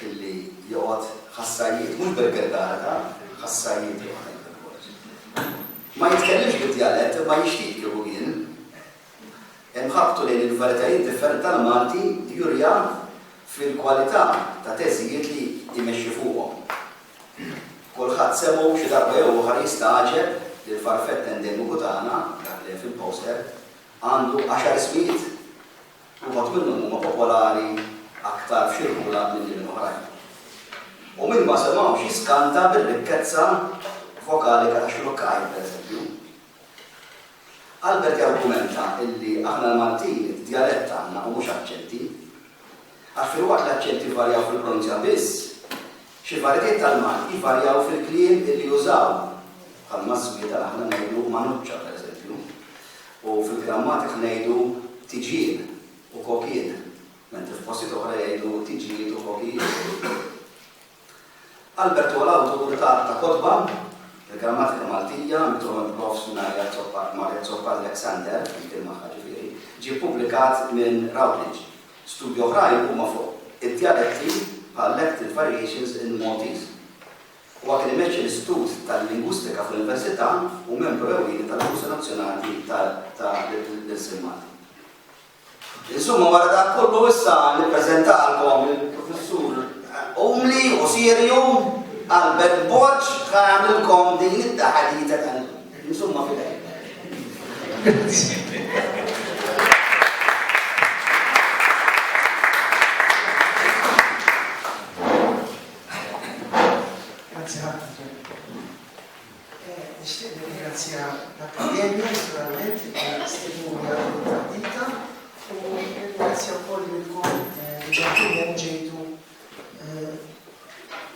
illi joqgħod ħassajjiet, mhux bil-gilgara ta' ħassajjiet joqgħod hekk bil-bord. Ma jitkellimx bid-djalett imma jixtieq jieħu hien. Inħabtu lejn il-varjetajiet differenti tal-Malti jurija fil-kwalità ta' teżijiet li jmexxi fuqhom. Kulħadd semgħu xi darba jew oħra jistagħġeb li l-farfett endemiku tagħna, dak li hemm fil-poster, għandu għaxar ismijiet. Uħud minnhom huma popolari aktar f'irħula milli minn oħrajn. U min ma semgħhomx jiskanta bir-rikkezza vokalika ta' Xlukkaj, pereżempju. Albert jargumenta illi aħna l-Maltin djalett għandna u mhux aċċenti. Għax filwaqt li l-aċċenti jvarjaw fil-pronunzja biss, xi varjetiet tal-Malti jvarjaw fil-kliem illi jużaw, bħal mażżwieta li aħna ngħidu manuċċa, pereżempju. U fil-grammatika ngħidu tiġien u kokien, mentri f'postijiet oħra jgħidu tiġijiet u kokijiet. Albert huwa l-awtur ta' ta' kotba, Il-Grammatika Maltija, mitruħ minn Prof. Marja Zoppa Alexander, fil-kien magħha ġifieri, ġie ppubblikat minn Routledge. Studji oħrajn huma fuq id-djaletti bħal Lected Variations in Maltese. Huwa kien imeċċi l-Istitut tal-Lingwistika fl-Università u membru ewlieni tal-Kursi Nazzjonali ta' l-Ilsien Malti. Insumma, wara dan kollu issa nippreżentalkom il-Professur umli u sirju Albert Borg ta' jagħmilkom din it-taħadita tal Insumma fidej. Grazzi ħafna, Ġenni. Nixtieq nirringrazzja l-Akkademja, naturalment, il-Istednuna tal-Dita, u nirringrazzja wkoll lilkom li ġejtu ġejtu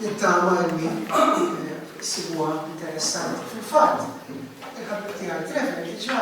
nittama li sibuha interessanti. Fil-fatt, il-ħabib tiegħi Trevor diġà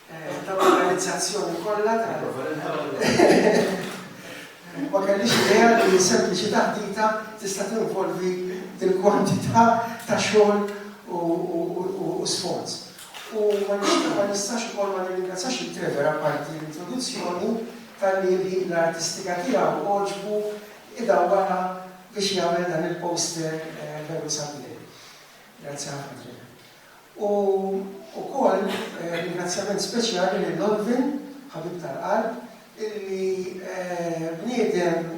tal-organizzazzjoni kollha Ma kellix idea li sempliċi taħdita tista' tinvolvi il-kwantità ta' xogħol u sforz. U ma nistax ukoll ma nirringrazzjax il Trevor apparti l-introduzzjoni tal-li l-ħila artistika tiegħu oġbu idawwara biex jagħmel dan il-poster eh, veru sabiħ. Grazie ħafna. U wkoll ringrazzjament speċjali lil Olvin, ħabib tal-qalb, illi bniedem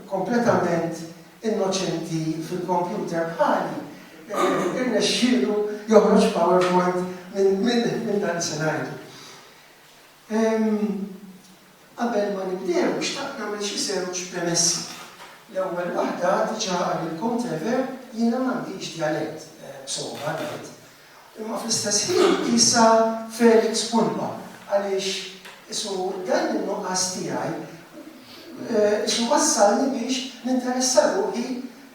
kompletament innoċenti fil-kompjuter bħali, irnexxielu joħroġ PowerPoint minn dan li se ngħidu. Ehm, qabel ma nibdew, xtaqt nagħmel xi żewġ premessi. L-ewwel waħda, diġà qalilkom Trevor, jiena m'għandix djalett, b'sogħba ngħid. Imma fl-istess ħin qisha Felix Pulpa għaliex qisu dan in-nuqqas tiegħi qisu wassalni biex ninteressa ruħi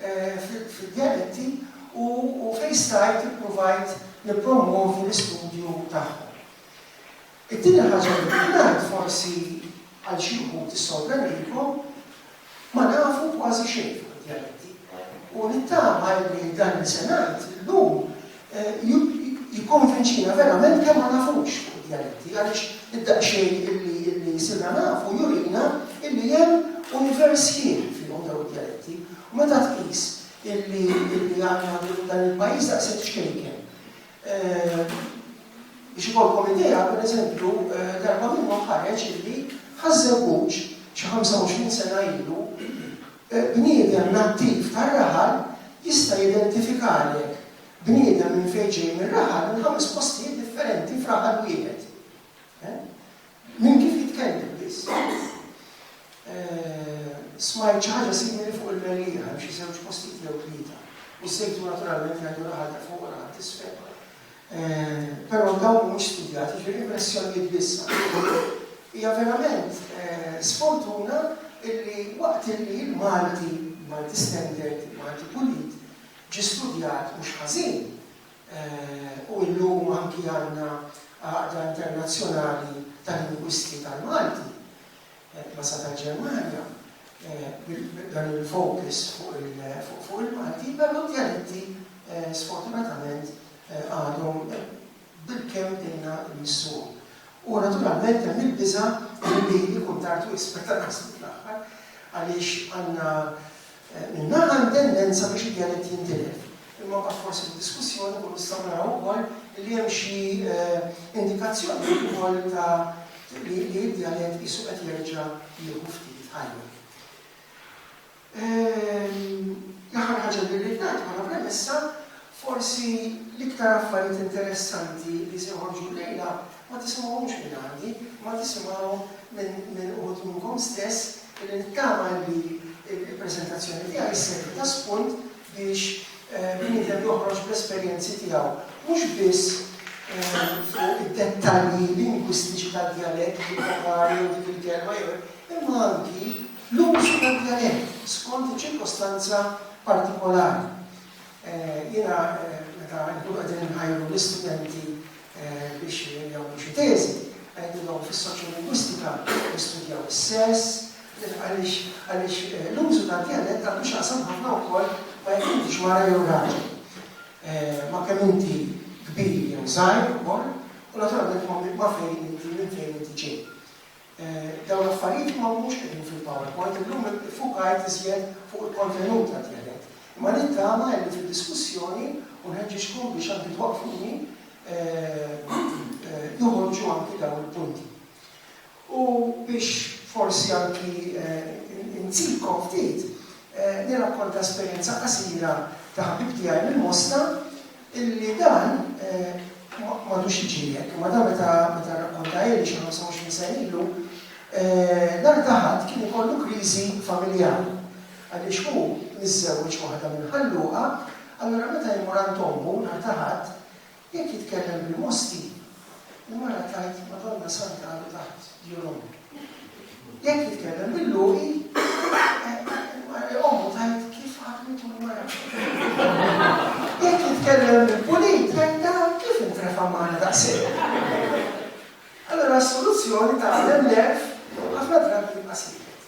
fid-djaletti u fejn stajt ippruvajt nippromwovi l-istudju tagħhom. It-tieni ħaġa li rrid ngħid, forsi għal xi wħud tissorprendikom, ma nafu kważi xejn fuq id-djaletti. U nittama li dan li se ngħid illum jikkonvinċina verament kemm ma nafux fuq id-djaletti għaliex id-daqsxejn illi sirna nafu jurina illi hemm univers ħieħ fihom dawn id-djaletti. U meta tqis illi għandna dan il-pajjiż daqshekk xkejken, Biex ikollkom idea, pereżempju, darba minnhom ħareġ illi ħa żewwuġ xi 25 sena ilu bniedem nattiv tar-raħal jista' jidentifikahlek bniedem minn fejn ġej mir-raħal minn ħames postijiet differenti f'raħal wieħed. Minn kif jitkellem biss. Smajt xi ħaġa simili fuq il-Mellieħa, hemm xi żewġ postijiet jew tlieta. U s-sejtu naturalment jgħidu raħal ta' fuq u raħal t'isfel. Però dawn mhumiex studjati, jiġifieri impressjonijiet biss. Hija verament sfortuna illi waqt illi l-Malti, il-Malti standard, il-Malti pulit, ġie studjat mhux ħażin, u llum anki għandna Għaqda Internazzjonali ta' Lingwisti tal-Malti, ECLASA tal-Ġermanja, b'dan il-focus fuq il-Malti, però d-djaletti sfortunatament għadhom bilkemm ilna nmissuhom. U naturalment hemm il-biża' li ikun tard wisq meta naslu fl-aħħar għaliex għandna Min-naħa hemm tendenza biex id-djalett jintilef, imma mbagħad forsi fid-diskussjoni nkunu nistgħu naraw ukoll li hemm xi indikazzjonijiet ukoll ta' li d-djalett qisu qed jerġa' jieħu ftit ħajja. L-aħħar ħaġa li rrid ngħid bħala premessa Forsi l-iktar affarijiet interessanti li se joħorġu llejla ma tismgħuhomx minn għandi, imma tisimgħuhom minn uħud minnkom stess li nittama li l-preżentazzjoni tiegħi sservi ta' spunt biex bniedem joħroġ bl-esperjenzi tiegħu mhux biss fuq id-dettalji lingwistiċi tad-djalett, il-vokali jew dik il-kelma jew hekk, imma anki l-użu tad-djalett skont iċ-ċirkostanza partikolari. Jiena meta nkunu qegħdin inħajru l-istudenti biex jagħmlu xi teżi, ngħidilhom fis-soċjolingwistika nistudjaw is-sess, għaliex l-użu tad-djalett għandu x'jaqsam ħafna wkoll ma' jekk intix mara jew raġel, ma' kemm inti kbir jew żgħir ukoll u naturalment ma' fejn inti, minn fejn inti ġej. Dawn l-affarijiet ma humiex qegħdin fil-PowerPoint, illum iffukajt iżjed fuq il-kontenut għat-tielet. Imma nittama illi fid-diskussjoni, u nħeġġiġkom biex anki twaqqfuni, joħorġu anki dawn il-punti. U biex forsi anki inzidkom ftit, nirrakkonta esperjenza qasira ta' ħabib tiegħi mill-Mosta Illi dan m'għadux jiġri hekk, imma dan meta rrakkontahieli xi ħamsa u għoxrin sena ilu, nhar ta' Ħadd kien ikollu kriżi familjari għaliex hu miżżewweġ waħda minn Ħal Luqa, allura meta jmur għand ommu nhar ta' Ħadd, jekk jitkellem bil-Mosti, U mara tgħid, Madonna Santa għadu taħt djun ommi. Jekk jitkellem bil-luqi, ommu tgħid kif ħakmitu l-mara. Jekk jitkellem bil-pulit, tgħidha kif intrefa' mara daqshekk. Allora s-soluzzjoni ta' l-emlef ħafna drabi jibqa' siket.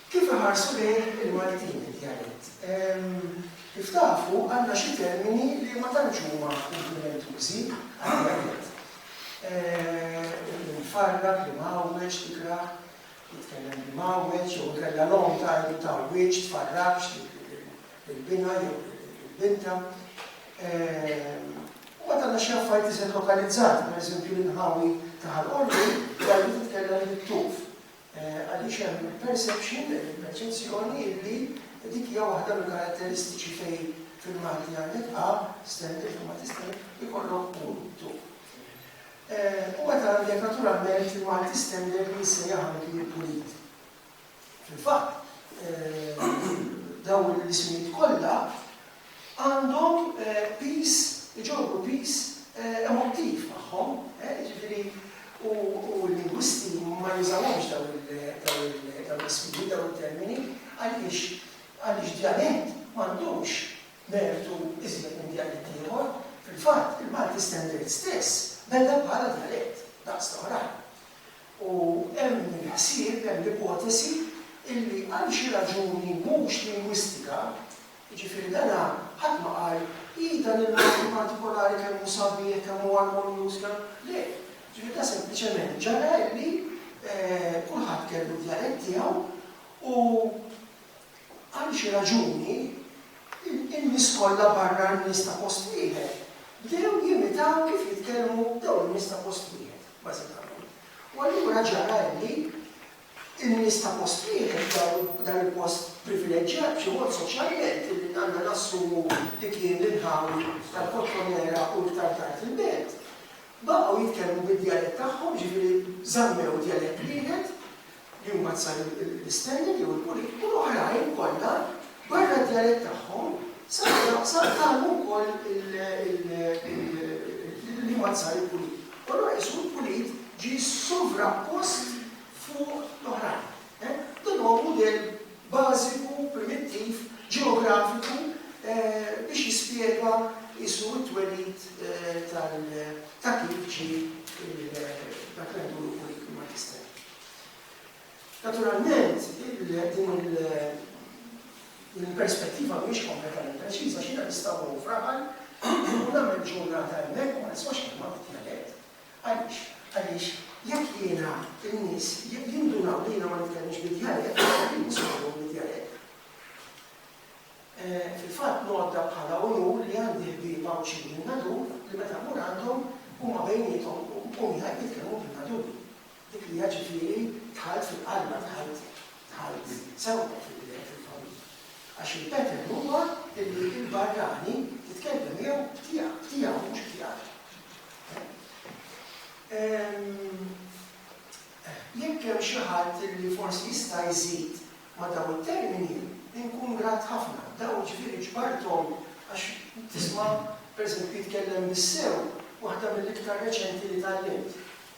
Kif iħarsu lejh il-Maltin id-djalett? Kif tafu, għandna xi termini li ma tantx huma kumplimentużi għad-djalett. Il-farrak li mgħawweġ, tikrah, jitkellem li mgħawweġ, jew inkella l-omm tgħid li tgħawwiġ, tfarrakx lill-binha jew lill-bintha. U mbagħad għandna xi affarijiet iżjed lokalizzati, pereżempju l-inħawi ta' Ħal Qormi, tgħid li titkellem bit-tuf. Għaliex hemm il-perception, il-perċezzjoni, illi dik hija waħda mill-karatteristiċi fejn fil-Malti għandek a, stem, il-forma ta' stem, ikollok u, tu. U meta għandek naturalment fil-Malti stem dejjem jissejjaħ anki il-pulit. Fil-fatt, dawn l-ismijiet kollha għandhom piż, iġorru piż emottiv magħhom, jiġifieri u l-lingwisti ma jużawhomx dawn l-ismini, dawn it-termini, għaliex? Għaliex djalett m'għandux mertu iżjed minn djalett ieħor. Fil-fatt, il-Malti Standard stess beda bħala djalett, daqs l-oħrajn. U hemm il-ħsieb, hemm l-ipotesi illi għal xi raġuni mhux lingwistika, Jiġifieri dana ħadd ma qal, ii dan il-mod partikolari kemm hu sabiħ, kemm hu armonjuż, kemm, le. Jiġifieri dan sempliċement ġara illi kulħadd kellu d-djalett tiegħu u għal xi raġuni in-nies kollha barra n-nies ta' post wieħed bdew jimitaw kif jitkellmu dawn in-nies ta' post wieħed, bażikament. U allura ġara illi In-nies ta' post wieħed f'dawn dan il-post privileġġjat b'xi mod soċjalment illi għandna nassumu li kien l-inħawi tal-Kottonera u iktar tard il-Belt, baqgħu jitkellmu bid-djalett tagħhom, jiġifieri żammew djalett wieħed li huma t-San l-Istennin jew il-Pulit u l-oħrajn kollha barra d-djalett tagħhom saru tagħmu wkoll il-liema t-San il-Pulit. U allura qisu l-pulit ġie sovrappost fuq l-oħrajn. Dan huwa mudell bażiku, primittiv, ġeografiku biex jispjega qisu t-twelid ta' kif ġie dak li ngħidulu pulit, il-magister. Naturalment, din il-perspettiva mhijiex kompletament preċiża għax jiena nista' mmur f'Raħal u nagħmel ġurnata hemmhekk u ma nismax kelma bid-djalett. Għaliex? Għaliex jekk jiena n-nies jindunaw li jiena ma nitkellmx bid-djalett, jien mhux se nitkellem bid-djalett. Fil-fatt ngħodda bħala unur li għandi ħbieb Għawdxin min-Nadur li meta mmur għandhom huma bejniethom u miegħi jitkellmu bil-Naduri. Dik li hija ġifieri dħalt fil-qalba, dħalt, dħalt sewwa fil-bidel, fil-fawl. Għax il-pattern huwa illi l-barrani titkellem miegħu b'tiegħek, b'tiegħu mhux b'tiegħek. Jekk hemm xi ħadd illi forsi jista' jżid ma' dawn it-termini, inkun grat ħafna. Dawn ġifieri ġbarthom għax tisma' pereżempju jitkellem bis-sew waħda mill-iktar reċenti li tgħallimt.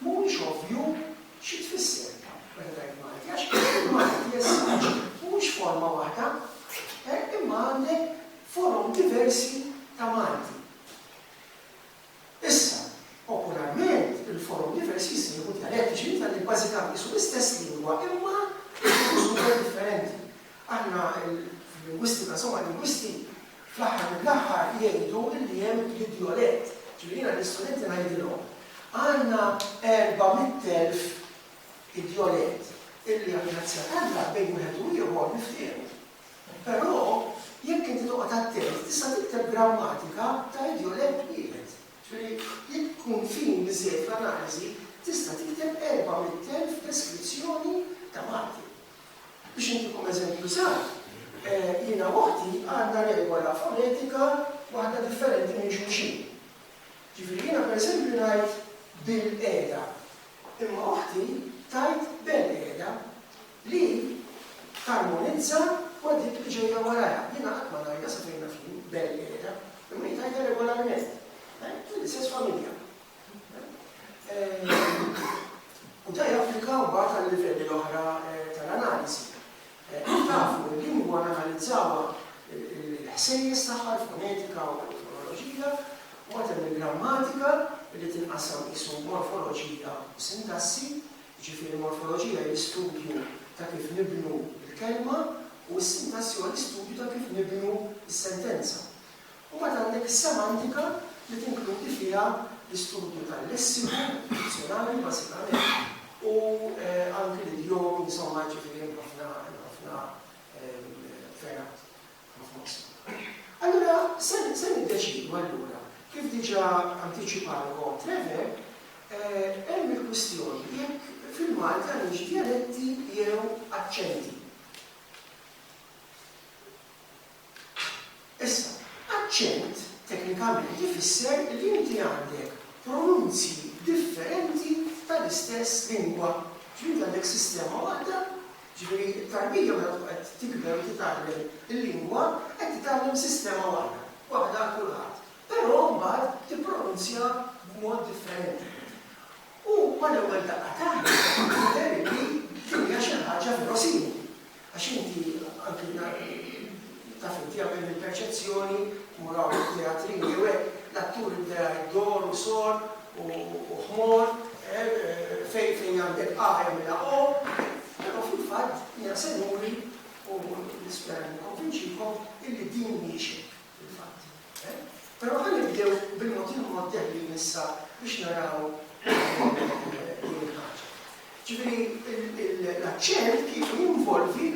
Mhuwiex ovvju xi tfisser meta tgħid Malti għax il-Malti jesiġi mhuwiex forma waħda hekk imma għandek forom diversi ta' Malti. Issa, popolarment il-forom diversi jissejħu djaletti, ġifieri tgħallem bażikament qisu l-istess lingwa imma jieħdu użu differenti. Aħna l-lingwisti ta' sew għal-lingwisti fl-aħħar mill-aħħar jgħidu li hemm l-idjolett. Ġifieri jiena lill-istudenti ngħidilhom, għandna 400,000 idjolett illi għall-grazzja t'Alla bejn wieħed u ieħor niftiehmu. Però jekk inti toqgħod attent tista' tikteb grammatika ta' idjolett wieħed. Ġifieri jekk tkun fin biżżejjed fl-analiżi tista' tikteb 400,000 deskrizzjoni ta' Malti. Biex intikom eżempju żgħir, jiena u oħti għandna regola fonetika waħda differenti minn xulxin. Ġifieri jiena pereżempju ngħid bil-qegħda, imma oħti tgħid bel-qegħda, li tarmonizza ma' dik li ġejja warajha. Jiena qatt ma ngħidha, sa fejn naf jien, bel-qegħda, imma hi tgħidha regolarment. Mill-istess familja. U da japplika mbagħad għal-livelli l-oħra tal-analiżi. Kif tafu, il-lingwa nanalizzawha il-ħsejjes tagħha, il-fonetika u l-fonoloġija, u mbagħad hemm il-grammatika li tinqasam qisu morfoloġija u sintassi, jiġifieri morfoloġija hi l-istudju ta' kif nibnu l-kelma u s-sintassi huwa l-istudju ta' kif nibnu s-sentenza. U mbagħad għandek is-semantika li tinkludi fiha l-istudju tal-lessiku, dizzjonarju bażikament, u anki l-idjomi, insomma, jiġifieri hemm ħafna, hemm ħafna fergħat, ma f'mosna. Allura se niddeċiedu allura, kif diġà antiċipalkom Trevor, hemm il-kwistjoni jekk fil-Malti għandniex djaletti jew aċċenti. Issa, aċċent teknikament ifisser li inti għandek pronunzji differenti tal-istess lingwa, ġifieri inti għandek sistema waħda, ġifieri t-tarbija meta tkun qed tikber u titgħallem il-lingwa qed titgħallem sistema waħda, waħda għal kulħadd, però mbagħad tippronunzja b'mod differenti. U mal-ewwel daqqa t'għajn jidher li din hija xi ħaġa verosimili. Għax inti, anki taf inti, għamilli l-perċezzjoni, mmur hawn fit-teatrin jew hekk, l-attur jibda jgħid dor u sor u ħmor, fejn fejn għandek a jagħmilha o, però fil-fatt jiena se nuri u nispera li nikkonvinċikom illi din mhijiex hekk. Il-fatt. Però ħa nibdew bil-mod il-mod dehrin issa biex naraw din il-ħaġa. Ġifieri l-aċċent kieku jinvolvi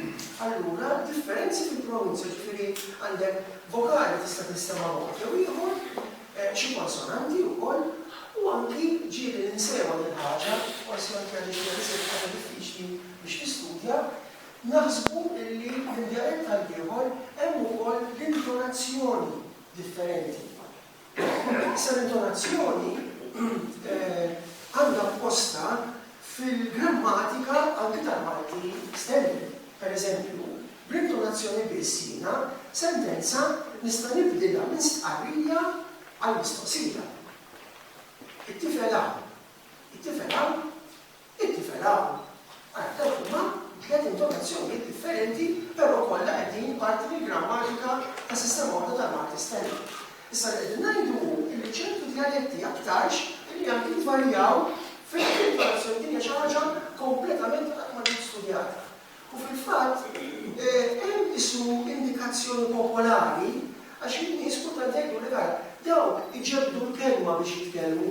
allura differenzi fil-pronunzja, ġifieri għandek vokali tista' tinstema' mod jew ieħor, xi konsonanti wkoll, u anki ġieli ninsewha din il-ħaġa, forsi anki għaliex hija riżultata diffiċli biex tistudja, Naħsbu illi minn djalett għal ieħor hemm ukoll l-intonazzjoni differenti. Issa l-intonazzjoni għandha postha fil-grammatika anki tal-Malti standard. Per eżempju, bl-intonazzjoni biss jiena sentenza nista' nibdilha minn stqarrija għal mistoqsija. It-tifel hawn. It-tifel hawn. It-tifel hawn għadda huma tliet intonazzjonijiet differenti però kollha qegħdin parti mill-grammatika ta' sistema waħda tal-Malti Standard. Issa li qegħdin ngħidu hu illi ċertu djaljetti aktarx illi anki jvarjaw fil-intonazzjoni din hija xi ħaġa kompletament qatt ma ġiet studjata. U fil-fatt hemm issu indikazzjoni popolari għax in-nies kultant jgħidulek ara dawk iġebbdu l-kelma biex jitkellmu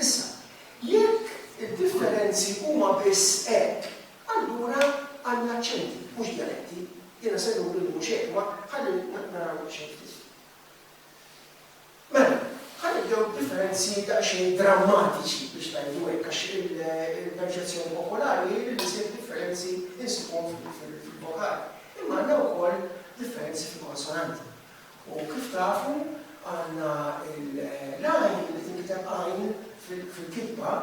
Issa, jekk id-differenzi huma biss hekk, allura għandna aċċenti, mhux djaletti. Jiena se nuri li mhux hekk, imma ħalli naraw daqsxejn ftit. Mela, ħa nibdew b'differenzi daqsxejn drammatiċi biex ngħidu hekk għax il-perċezzjoni popolari hi li l-iżjed differenzi nsibuhom fil-vokali. Imma għandna wkoll differenzi fil-konsonanti. U kif tafu, għandna l-għajn li tinkiteb għajn fil-kitba,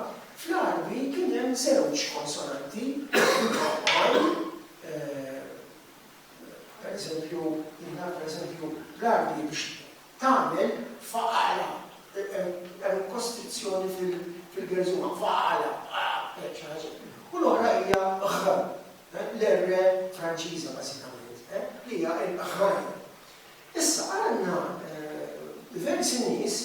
fl-Għarbi kien hemm żewġ konsonanti, għajn, per eżempju, jien naf per eżempju l-Għarbi biex tagħmel faqala, hemm kostrizzjoni fil-gerżuma, faqala, faqala, hekk xi ħaġa, u l-oħra hija ħ, l-R Franċiża bażikament, li hija l-aħħar R. Issa għandna diversi nies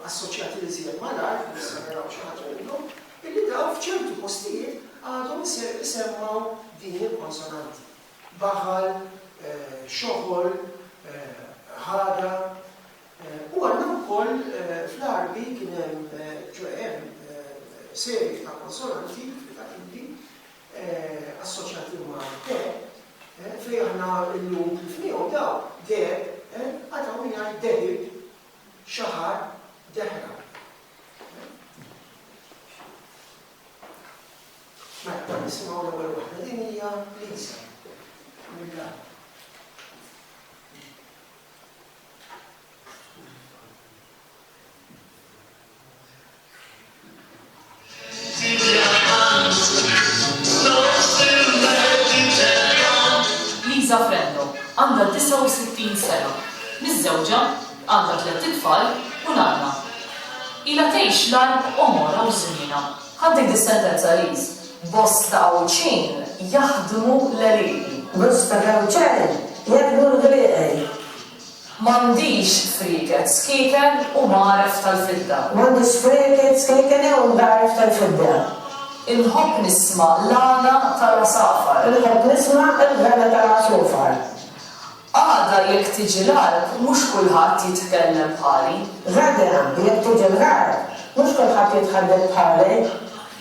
assoċjati iżjed mal-R, forsi se naraw xi ħaġa minnhom, illi dawn f'ċertu postijiet għadhom isemmgħu din il-konsonanti. Baħal, xoħol, ħadha, u għandna wkoll fl-Għarbi kien hemm, ċoe hemm serje ta' konsonanti, fritativi, assoċjati umani, deheb, fejn aħna llum tlifniehom dawn, deheb, għad hawn min jgħid dehib, xaħar, dehra. Mela, nisimgħu l-ewwel waħda din hija Lisa. Lisa Frenno għandha 69 sena, miżżewġa, għandha tlett itfal u nanna. Ilha tgħix l-għar għomorha u żmienha. Ħadd dik dis-sentenza Liz. Bosta Għawdxin jaħdmu l-għelieqi. Bosta Għawdxan jaħdmu l-għelieqi. M'għandix sprieket skieken u mgħaref tal-fidda. M'għandi sprieket skieken u mgħaref tal-fidda. Inħobb nisma' l-għana tal-għasafar. Inħobb nisma' l-għana tal-għasufar. Għada jekk tiġi l-għarb mhux kulħadd jitkellem bħali. Għada jekk tiġi l-għarb mhux kulħadd jitħadded bħali.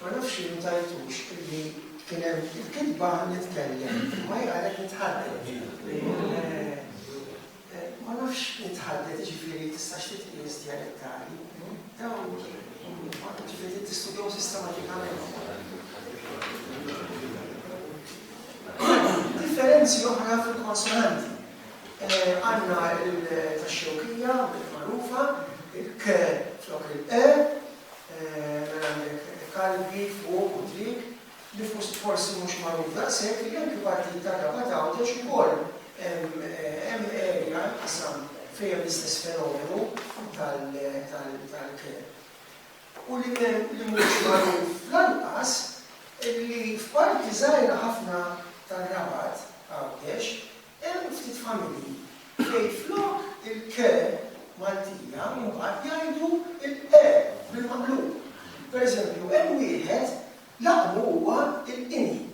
Ma nafx li nutajtux illi kien hemm il-kitba nitkellem, imma hi qalet nitħadded. Ma nafx nitħadded jiġifieri tistax titqies djalettali. Dawn jiġifieri tistudjahom sistematikament. Differenzi oħra fil-konsonanti. Għandna l tax-Xewkija bdiet magħrufa, il-k flok il-q, mela għandek Kalbi, fuq u triq. Li forsi mhux magħruf daqshekk li anki partijiet tar-Rabat Għawdex ukoll hemm area, qasam, fejn hemm l-istess fenomenu tal-k. u li mhuwiex magħruf lanqas li f'parti żgħira ħafna tar-Rabat, Għawdex, hemm ftit familji fejn flok il-k Maltija mbagħad jgħidu l-e bil-maqlub. Pereżempju, hemm wieħed laqbu huwa l-qini.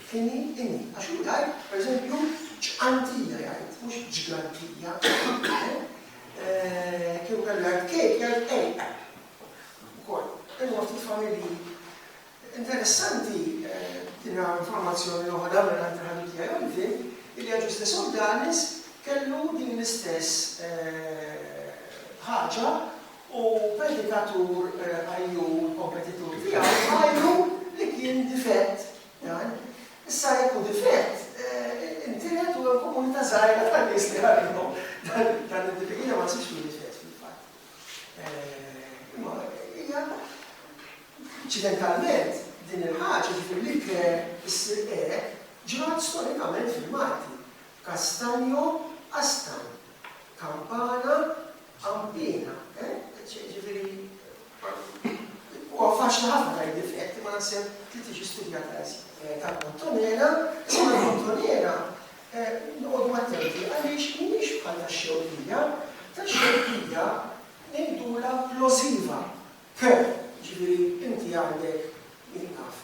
Fini, ini, għax hu jgħid, pereżempju, ġqantija jgħid, mhux ġgantija. Kieku kellu jgħid kejk, jgħid kejk. Ukoll. Imma ftit familji. Interessanti dinha informazzjoni noħodha mingħand il-ħabib tiegħi Olvin, illi Aġuste Sodanis kellu din l-istess ħaġa u predikatur għajjur u kompetitur tiegħu jgħidu li kien difett dan. Issa jekk hu difett, intiret u hemm komunità żgħira ta' nies li għalihom dan id-difett ma jsibx li difett fil-fatt. Imma hija inċidentalment din il-ħaġa ġifier li ke issir e ġrat storikament fil-Malti. Castanjo Astan, Campana Għampina, eh? Jiġifieri, huwa faċli ħafna tgħid difett, imma naħseb trid tiġi studjata iżjed. Tal-bottonera, imma l-bottonera noqogħdu attenti għaliex mhijiex bħal tax-xewkija, tax-xewkija ngħidulha plosiva. Keh, jiġifieri inti għandek, min naf,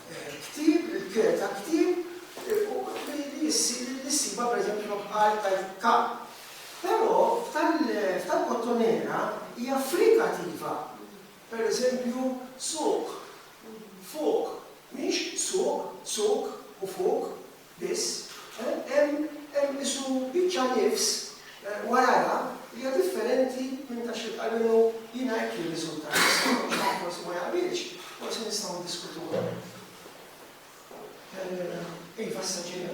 ktieb, il-keh ta' ktieb, li issir, li ssibha pereżempju ma' bqal tajt ka. Però f'tal-bottonera hija frikativa. Pereżempju, suq, fuq, mhix suq, suk u fuq. biss, hemm qisu biċċa nifs warajha li hija differenti minn dak x'int, almenu jiena hekk jirriżultali, issa jekk xi ħadd forsi ma jaqbilx, forsi nistgħu niddiskutuha. Iva, issa ġejja.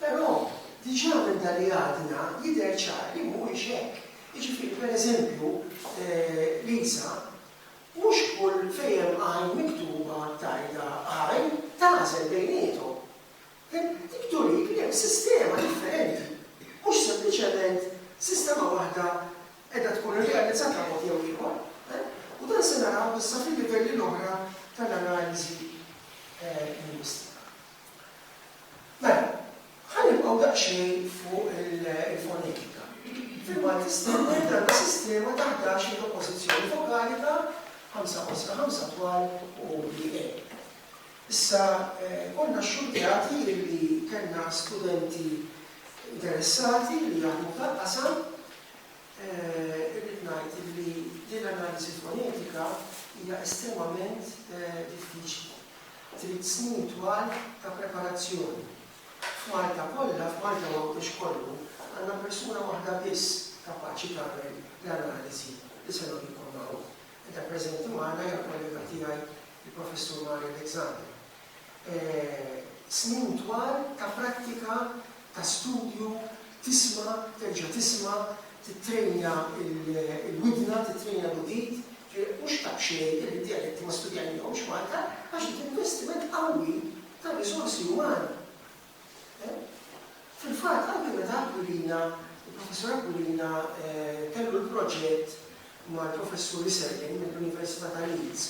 Però, diġà minn dan li għadna jidher ċar li mhuwiex hekk. Jiġifieri, per eżempju, Lisa, mhux kull fejn hemm għajn miktuba tgħidha għajn, tagħżel bejniethom. Dik turik li hemm sistema differenti, mhux sempliċement sistema waħda qiegħda tkun irrealizzata b'mod jew ieħor. U dan se naraw issa fil-livelli l-oħra tal-analiżi lingwistika. Mela, ħa nibqgħu daqsxejn fuq il-fonetika. Fil-Malti Standard għandna sistema ta' ħdax-il oppożizzjoni vokalika, ħamsa qosra, ħamsa twal u li e. Issa, konna xxurtjati li kellna studenti interessati li jaħdmu f'dan qasam. Irrid ngħid li din l-analiżi fonetika hija estremament diffiċli. trid snin twal ta' preparazzjoni. F'Malta kollha, f'Malta u Għawdex kollu, għandna persuna waħda biss kapaċi tagħmel l-analiżi li se nurikom hawn. Qiegħda preżenti magħna hija kollega tiegħi l-Professur Mari Alexander. Snin twal ta' prattika ta' studju, tisma', terġa' tisma', tittrejna l-widna, tittrejna l-udit, ġifieri mhux ta' b'xejn li d-djaletti ma studjajnihomx f'Malta għax dik investiment qawwi ta' riżorsi umani. Fil-fatt anke meta Aquilina, il-Professur Aquilina kellu l-proġett mal-Professuri Selgin mill-Università ta' Leeds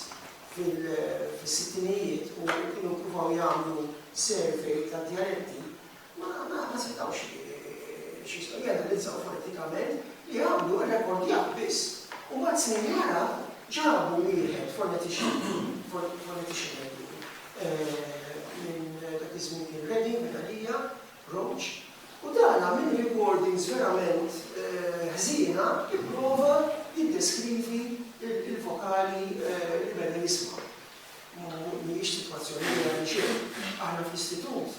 fis-sittinijiet u kienu ppruvaw jagħmlu survey tad-djaletti, ma ma setgħux x'jismu janalizzaw fonetikament li għamlu rrekordjar biss u mbagħad snin wara ġabu wieħed fonetician, fonetician għidu, minn dak iż-żmien kien Reading, minn għalija, approach u dan minn recordings verament ħżiena jipprova jiddeskrivi l-vokali li beda jisma'. Mhijiex sitwazzjoni vera minn xejn. Aħna fl-istitut,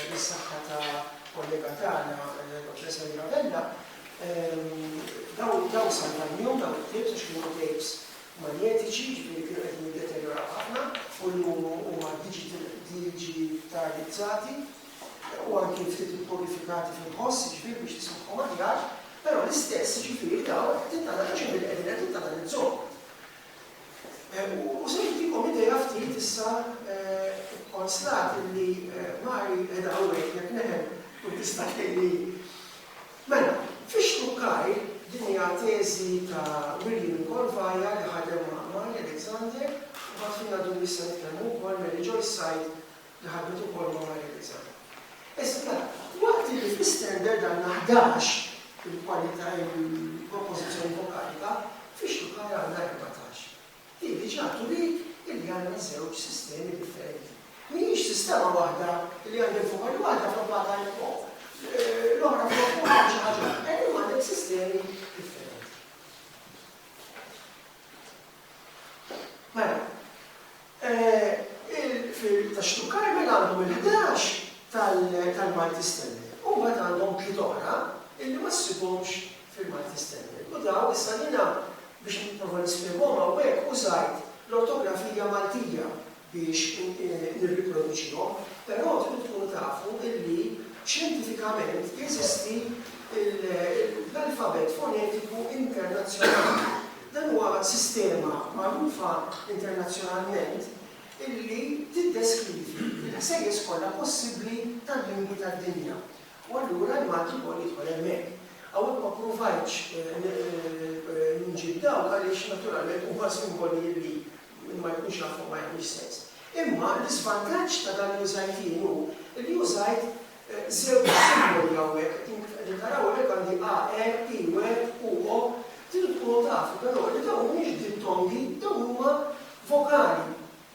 bis-saħħa ta' kollega tagħna, Dottor Samira Vella, dawn salvajnihom dawn it-tapes għax kienu tapes manjetiċi, jiġifieri kienu qegħdin jiddeterjoraw ħafna u llum huma diġitalizzati u anki ftit ippurifikati fil-ħoss, jiġifieri biex tismagħhom aħjar, però l-istess, jiġifieri dawn qed tintanalizzhom billi qegħdin qed tintanalizzhom. U se nagħtikom idea ftit issa kkonstati li Mari qiegħda hawnhekk jekk neħel tkun tista' tgħinni Mela, fix-xtukkajr, din hija teżi ta' William Colvaya li ħadem ma' Amalia Alexander, u mbagħad f'Jien Għadu Wiesq Se Nitkellmu Wkoll, Mary Joyce Said li ħadmet ukoll ma' Amalia Alexander. Issa, mela, waqt illi fl-istandard għandna ħdax il-kwalità, il-propożizzjoni vokalika, fix-xtukkajr għandna erbatax. Hi diġà turiet li għandna żewġ sistemi differenti. Mhijiex sistema waħda li għandek fuq għajn waħda flok ma' għajn fuq l-oħra flok fuq għajn xi ħaġa oħra. Illum għandek sistemi differenti. Mela, tax-Xtub Karmel għandhom il-ħdax tal-Malti Standard u mbagħad għandhom tliet oħra illi ma ssibhomx Firmat Li Stenberg u dawn issa jiena biex nipprova nispjegahom hawnhekk użajt l-ortografija Maltija biex nirriproduċihom, però tridu tkunu tafu illi xjentifikament jeżisti l-alfabett fonetiku internazzjonali. Dan huwa sistema magħrufa internazzjonalment illi tiddeskrivi l-ħsejjes kollha possibbli tal-lingwi tad-dinja. U allura l-Malti jkoll jidħol hemmhekk. Hawnhekk ma ppruvajtx nġib dawk għaliex naturalment huma simboli li min ma jkunx jafhom ma jagħmilx sens. Imma l-iżvantaġġ ta' dan li użajt jien hu li użajt żewġ simboli hawnhekk. Din kif qegħdin taraw hawnhekk għandi AR, IR, UO. Trid tkunu tafu però li dawn mhumiex dittongi, dawn huma vokali.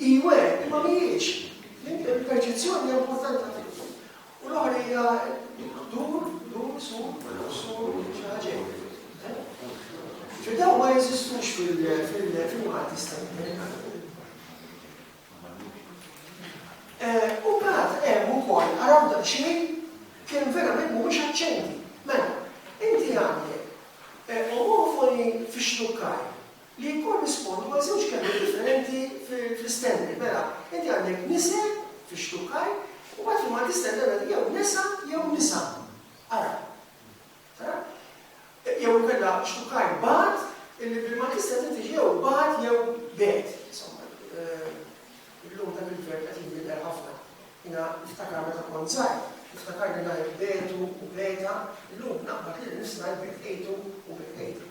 Iwe, imma mhijiex. Il-perċezzjoni hija importanti ħafna. U l-oħra hija dur, dur, sur, sur, xi ħaġa Ġudew ma jeżistux fil-Malti Stanimerikana. Eh, u bħat hemm ukoll araw da xejn kien verament mhux aċċenti. Mela, inti għandek eh, omofoni fix-xtukkar li jikkorrispondu għal żewġ kelmiet differenti fl-istenni. Mela, inti għandek nise fix-xtukkar u mbagħad fil-Malti tistenni għandek jew nesa jew nisa. Ara? Ara? Jew inkella xtukkar bad illi bil-Malti tistenni tiġi jew bad jew bed. Insomma, illum dak il-verb qed jinbidel ħafna. Jiena niftakar meta kont żgħir, niftakar li ngħid betu u beta, illum naqbad li nista' ngħid betejtu u betejta.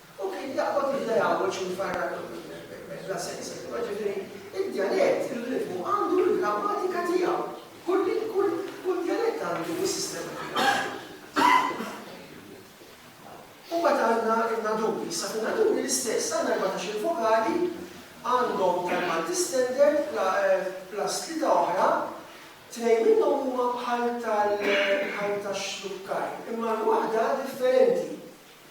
U kien jaqbad il-lejawġ u jfarrak bla sens, insomma, ġifieri d-djalett, ir-ritmu għandu l-grammatika tiegħu. Kull djalett għandu s-sistema tiegħu. U mbagħad għandna n-naduri, issa fin-naduri l-istess, għandna erbatax-il vokali, għandhom tal-Malti Standard plus tlieta oħra, tnejn minnhom huma bħal tax-Xlukkaj, imma l-waħda differenti.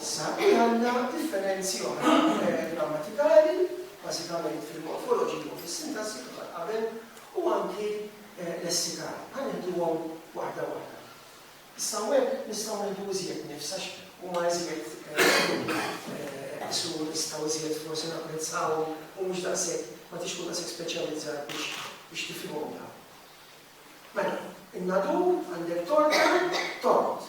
Issa hi għandha differenzi oħra f'termini grammatikali, bażikament fil-morfoloġija u fis-sintassi kif għad qabel, u anki lessikali. Ħa nieħduhom waħda waħda. Issa hawnhekk nistgħu nieħdu iżjed nifs għax huma iżjed isu nistgħu iżjed forsi napprezzawhom u mhux daqshekk ma tix tkun daqshekk speċjalizzat biex biex tifhimhom dawn. Mela, in-nadur għandek torta, tort.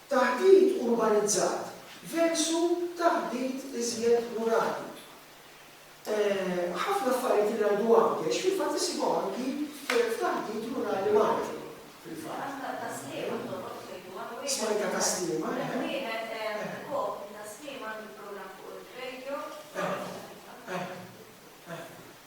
Taħdit urbanizzat versu taħdit iżjed rurali. Ħafna affarijiet li ngħidu hawn Ghesh fil-fatt issibhom anki f'taħdit rurali Malti fil-fatt. Smajta ta' Sliema t-toroq tgħidu hawn wieħed. Smajta ta' Sliema, eħe. Hemm wieħed Kopri ta' Sliema għandu programm fuq ir-radio. Eħe, eħe, eħe.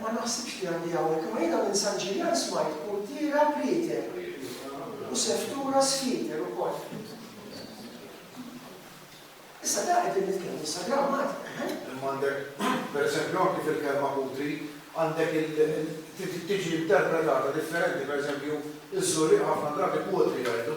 Ma naħsibx li għandi hawnhekk, imma jiena minn San Ġiljan smajt puntiera prieter u seftura sfieter ukoll. Issa da qegħdin nitkellmu sa grammatika, eħe? Imma għandek, pereżempju, anki fil-kelma putri, għandek il, tiġi interpretata differenti, pereżempju, iż-Żurrieqa ħafna drabi putri jgħidu.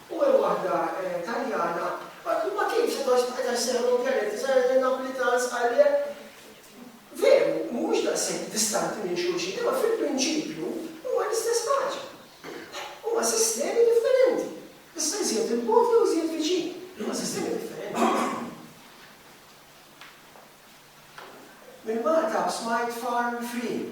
u hemm waħda Taljana, ma ma kienx għad għax bqajt għax seħħu l-Mondjali, tisgħu jgħidu n-Napolitans għalhekk veru mhumiex daqshekk distanti minn xulxin, imma fil-prinċipju huma l-istess ħaġa. Huma sistemi differenti. Issa iżjed 'il bogħod jew iżjed viċin, imma sistemi differenti. Minn Malta smajt Farm Free.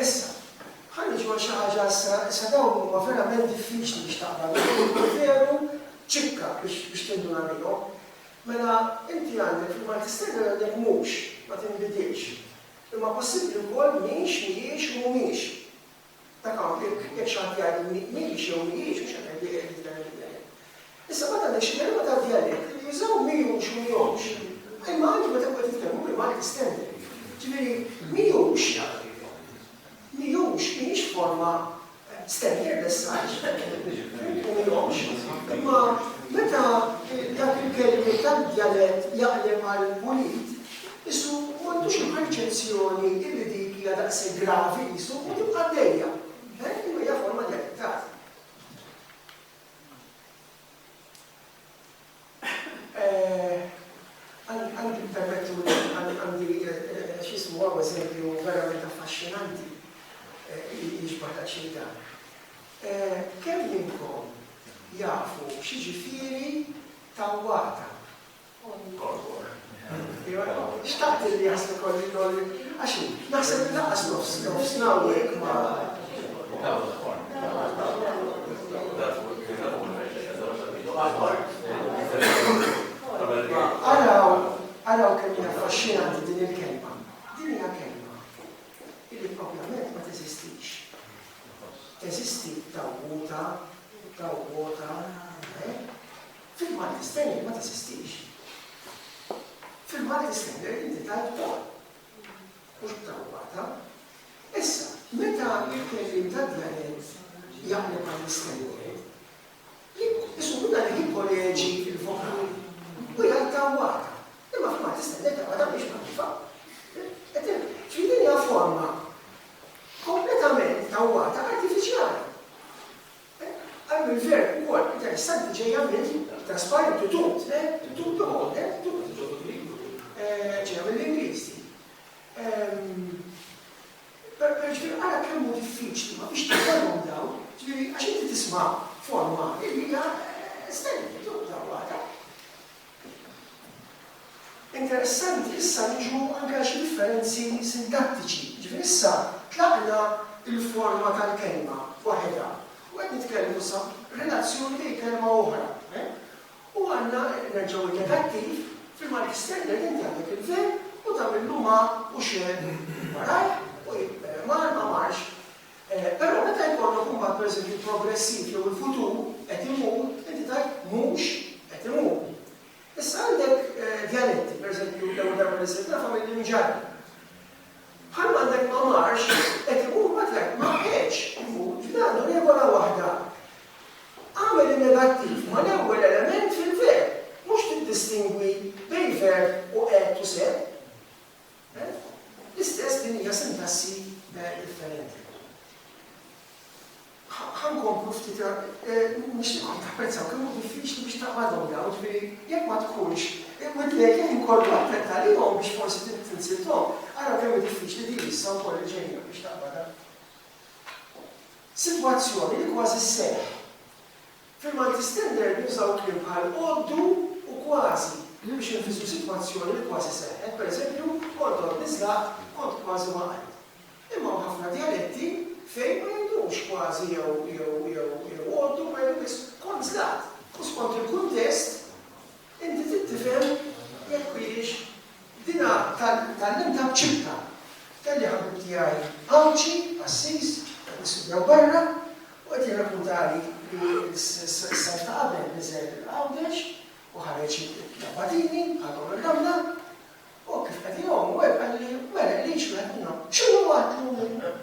Issa, ħa niġu għal xi ħaġa astra, issa dawn huma verament diffiċli biex taqra bihom u jkun veru ċikka biex biex tinduna bihom. Mela, inti għandek rigward l-istejjer għandek mhux, ma tinbidilx. Imma possibbli wkoll mhix, mhijiex, mhumiex. Dak hawn jekk jekk xi ħadd jgħidilni mhix jew mhijiex mhux qed nibdieq jekk tidher lilja jien. Issa meta nixtieq nota d-djalett li jużaw mhijux mhijomx, imma anki meta nkun qed nitkellmu bil-Malti standard. Ġifieri mhijux, mhijux, mhijiex forma standard as such, u mhijomx, imma meta dak il-kelmiet tad-djalett jaqleb għal mulid, qisu m'għandux il-perċezzjoni illi dik hija daqshekk gravi qisu u tibqa' għaddejja. Imma hija forma djalettali. Għandi permettuli, għandi x'jismu hawn eżempju verament affaxxinanti li jixbah daqsxejn dan. Kemm minnkom jafu x'jiġifieri tawwata? Xtaqt li jaslu kolli kolli, għax hu naħseb li lanqas nofs nofsna u hekk ma. Araw, araw kemm hija affaxxinanti din il-kelma. Din hija kelma illi proprjament ma teżistix. Teżisti tawwuta, tawwota, eh? Fil-Malti Standard ma teżistix. Fil-Malti Standard inti tajt ukoll. Mhux b'tawwata. Issa, meta l-kelliem tad-djalett jaqleb għall-istandard, isu minna li jikkoreġi l-vokali u jgħid tawwata. Imma fil-Malti Standard tawwata mhix magħrufa. Ġifieri din hija forma kompletament tawwata artifiċjali. Għal mill-Gvern ukoll interessanti ġejja minn trasparenti u tut, le, tut bi ħolq, le, tut bi ħolq, ġejja mill-Ingliż din. Però ġifieri ara kemm hu diffiċli ma biex tkollhom dawn, ġifieri għax inti tisma' forma li hija estenditu, tawwara. Interessanti, issa niġu anke għal xi differenzi sintattiċi. Jiġifieri issa tlaqna l-forma tal-kelma waħedha u qed nitkellmu sa relazzjoni bejn kelma u oħra. U għandna, nerġgħu n-negattiv, fil-Malti Standard inti għandek il-verb u tagħmillu ma u xegħel warajh u jibqgħu mar ma marx. Però meta jkollok imbagħad pereżempju l-progressiv jew il-futur qed imur, inti tgħid mhux qed imur. Issa għandek djaletti, pereżempju l-ewwel darba li sirt nafha mill-Imġarri. Bħalma għandek ma marx qed imur mbagħad tgħid ma qegħdx imur, ġifieri għandu regola waħda. Agħmel in-negattiv mal-ewwel element fil-verb, mhux tiddistingwi bejn verb u qegħedt u sert. L-istess, din hija sintassi differenti. Ħa nkomplu ftit, nixtieqkom tapprezzaw kemm hu diffiċli biex taqbadhom dawn, jiġifieri jekk ma tkunx imwiddlek il-ħin kollu għattenti għalihom biex forsi tinsilthom, ara kemm hi diffiċli din issa wkoll li ġejja biex taqbadha. Sitwazzjoni li kważi sseħħ. Fil-Malti Standard jinsabu kliem bħal għoddu u kważi, li biex infissru sitwazzjoni li kważi seħħet, pereżempju, kont għoddni żlaqt, kont kważi waqajt. Imma hawn ħafna djaletti fejn ma jgħidux kważi jew jew jew jew għoddu imma jgħidu biss kont żlaqt. U skont il-kuntest, inti trid tifhem jekk hijiex Dina tgħallimtha b'ċibta. Kelli ħabib tiegħi Għawdxi, qassis, qed nistudjaw barra, u qed jirrakkuntali li s-sajf ta' qabel niżel Għawdex u ħareġ l-abbatini għadhom ir-ramla, u hekk kif qed igħum u hekk qalli, mela qligħ wieħed minnhom, x'inhu għad llum?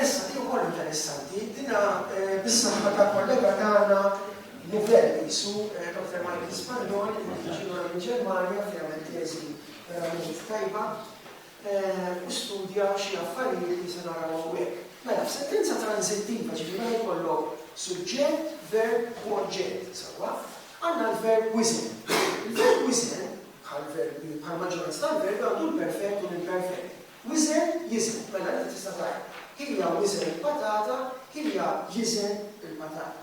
Issa, din ukoll interessanti, dinha bis-saħħa ta' kollega tagħna Nivelle qisu, Dottor Michael Spagnol, li qed jiġi lura mill-Ġermanja fejn għamel teżi verament tajba u studja xi affarijiet li se naraw hawnhekk. Mela, f'sentenza tranżittiva, ġifieri meta jkollok suġġett, verb u oġġett, sewwa, għandna l-verb wiżen. Il-verb wiżen, bħall-verbi, bħall-maġġoranza tal-verbi, għandu l-perfett u l-imperfett. Wiżen jiżen, mela inti tista' tgħid, Hija wiżen il-patata, hija jiżen il-patata.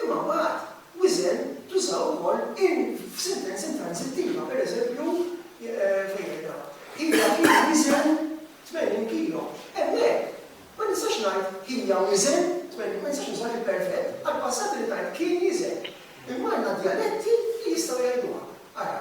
Imma mbagħad wiżen tuża wkoll in f'sentenza intransittiva, pereżempju, fejn qiegħda, Hija kienet tiżen 80 kilo. Hemmhekk ma nistax ngħid hija wiżen 80 ma nistax nuża l-imperfett, għall-passat irid ngħid kien jiżen. Imma għandna djaletti li jistgħu jgħiduha. Ara,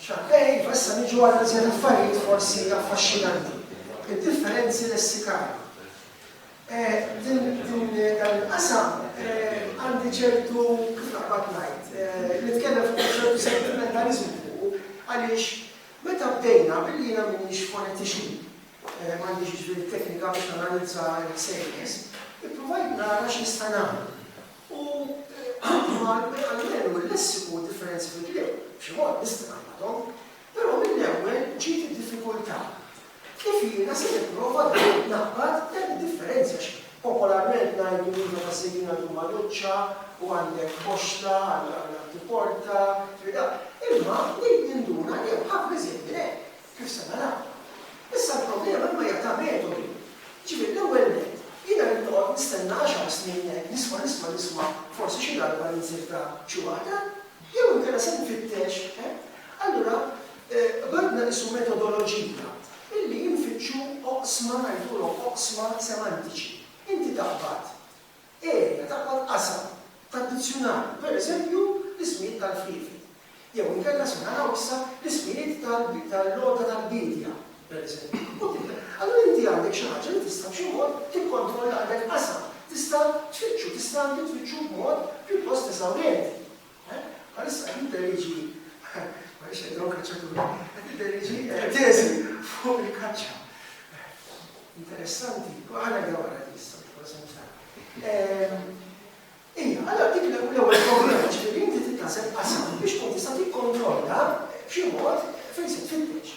Xappej, iva issa niġu għal iżjed affarijiet forsi affaxxinanti. Id-differenzi lessikali. Din dan il-qasam għandi ċertu kif naqbad ngħid, nitkellem fuq ċertu sentimentaliżmu għaliex meta bdejna billi jiena m'iniex fonetixi, m'għandix ġifieri t-teknika biex nanalizza l-ħsejjes, ippruvajt nara x'nista' nagħmel. U anki ma jqajjelu l-lessiku differenzi fil-kliem, b'xi mod nista' ngħammdhom, però mill-ewwel ġiet id-diffikultà. Kif jiena se nipprova dejjem ngħammad dan id-differenzi għax popolarment ngħidu li meta sejrin għand Umanuċċa u għandek boxxla għal tipporta, imma bdejt ninduna li hemm ħafna iżjed minn hekk. Kif se naraw. Issa l-problema imma hija ta' metodi. Jiġifieri l-ewwel nett, jiena rrid noqgħod nistenna għaxar snin hekk nisma' nisma' nisma' forsi xi darba ninzirta xi waħda? Jew inkella se nfittex, eh? Allura ħadna qisu metodoloġija illi infittxu oqsma ngħidulhom oqsma semantiċi. Inti taqbad. erja ta' kwal qasam tad-dizzjunarju, pereżempju, l-ismijiet tal-friefiet, jew inkella se naraw issa l-ismijiet tal-għodda tal-biedja, pereżempju, u tibda. Allura inti għandek xi ħaġa li tista' b'xi mod tikkontrollha, għandek qasam, tista' tfittxu, tista' anki tfittxu b'mod pjuttost eżawrenti. Bħalissa qed nidderieġi, m'għaliex qed ngħomm kaċċatur, qed nidderieġi teżi fuq il-kaċċa. Interessanti, u ħa ngħidha wara din is-sena, forsi mhux tara. Ija, allura dik l-ewwel problema ġifieri inti tittaseb qasam biex tkun tista' tikkontrolla b'xi mod fejn se tfittex.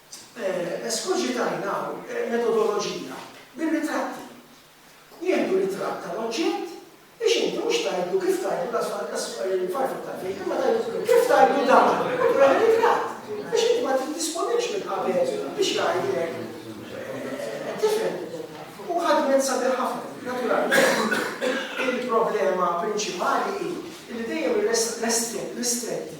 Eskoġitajna hawn metodoloġija bir-ritratti. Nieħdu ritratt tal-oġġett biex inti mhux tgħidlu kif tgħidlu lanqas il-farfuk tal-bejt imma tgħidlu kif tgħidlu dan u turi ritratt biex inti ma tiddisponix minn qabel biex jgħidlek qed tifhem. U ħadmet sabiħ ħafna. Naturalment, il-problema prinċipali hi li dejjem ir-restrikti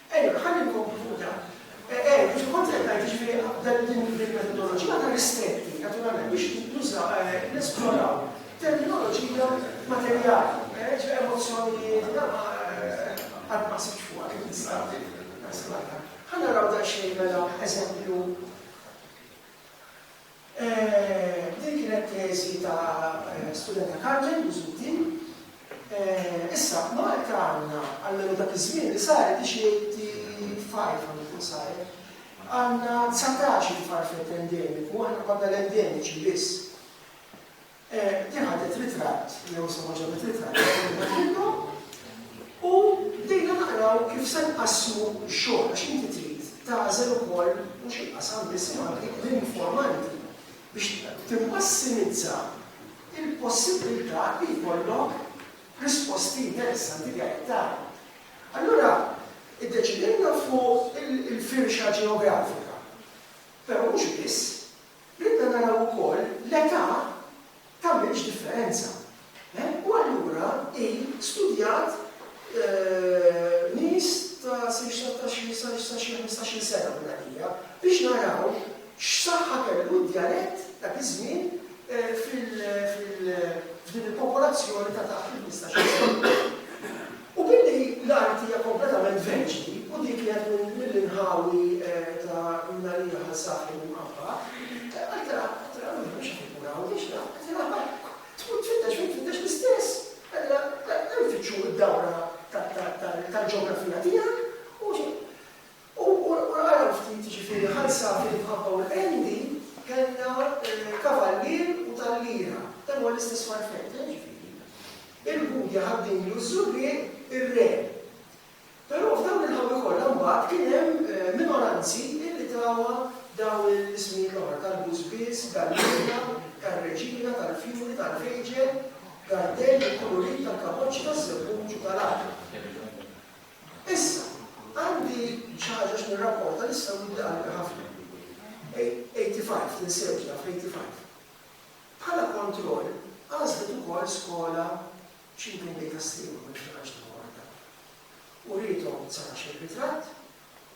Ejja, ħalli nkomplu fuq dan. Ejja, kif kont qed ngħid, jiġifieri dan din il-metodoloġija ta' l-istempi, naturalment, biex nuża, nesploraw terminoloġija materjali, jiġifieri emozzjonijiet, dan ma, qatt ma ħsibtx fuqha kif nista' naħseb għaliha. Ħa naraw daqsxejn mela eżempju. Din kienet teżi ta' studenta Carmen Busuttil. Issa f'Malta għandna, almenu dak iż-żmien li saret hi xi 85 għandu jkun saret, għandna dsatax-il farfett endemiku, aħna konna l-endemiċi biss. Din ħadet ritratt, jew insomma ġabet ritratt ta' kull wieħed minnhom u bdejna naqraw kif se nqassmu x-xogħol għax inti trid tagħżel ukoll mhux il-qasam biss imma anki l-informanti biex timmassimizza l-possibbiltà li jkollok risposti interessanti li qed tara. Allura iddeċidejna fuq il-firxa ġeografika, però mhux biss. Ridna naraw ukoll l-età tagħmilx differenza. U allura hi studjat nies ta' sa xi ħmistax-il sena minn għalija biex naraw x'saħħa kellu d-djalett dak iż-żmien f'din il-popolazzjoni ta' taħt il-ħmistax-il sena. U billi l-art hija kompletament verġni u dik li qed mill-inħawi ta' mingħalija ħal saħel imqabba, għalkemm qed tara ruħek mhux qed inkun hawn, m'iniex naf, qed tara barrak, tmur tfittex fejn tfittex l-istess, allura hemm fitxu d-dawra tal-ġeografija tiegħek u xi. U ara ftit, jiġifieri ħalsat l-imħabba u l-qendi, kellna kavallier u talliera. Dan huwa l-istess farfett, eh, jiġifieri. Il-Budja, ħad-dinjlu, ż-żurrieq, ir-re. Però f'dawn il-ħawi kollha mbagħad kien hemm minoranzi li tawha dawn l-ismijiet l-oħra, tal-bużbież, galliera, tar-reġina, tal-fjuri, tal-fejġel, gardell, il-kulurit, tal-kapoċċi, taż-żebbuġ u tal-għaqreb. Issa, għandi xi ħaġa x'nirrapporta li issa wuddi qalbi ħafna. Eighty Five, tinsewx naf Eighty Five. Bħala kontroll, għażlet ukoll skola Cheap in Data Stream, ma niftakarx l-aħħar waħda. Uriethom sar għax ir-ritratt,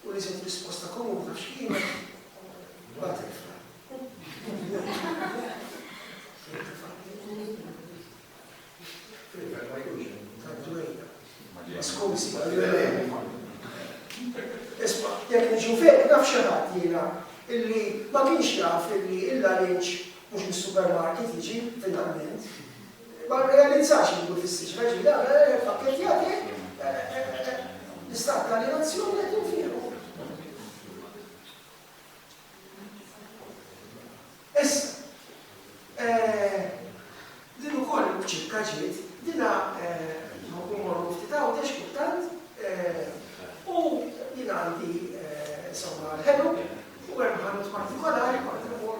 u li se tkun risposta komuni għax kienet butterfly. Skużi, Isma, jek nġu fek, naf xaħat jena, illi ma kienx jaf illi illa l-inċ mux mis-supermarket jiġi, finalment. Ma rrealizzax li jkun fis-siġra, jiġifieri dan mela jekk ippakketjah hekk, l-istat ta' aljenazzjoni qed jinfiexu. Issa, din ukoll ċipka ġiet, dina nħobb immorru ftit Għawdex kultant u jien għandi insomma l-ħelu u hemm ħanut partikolari kont immur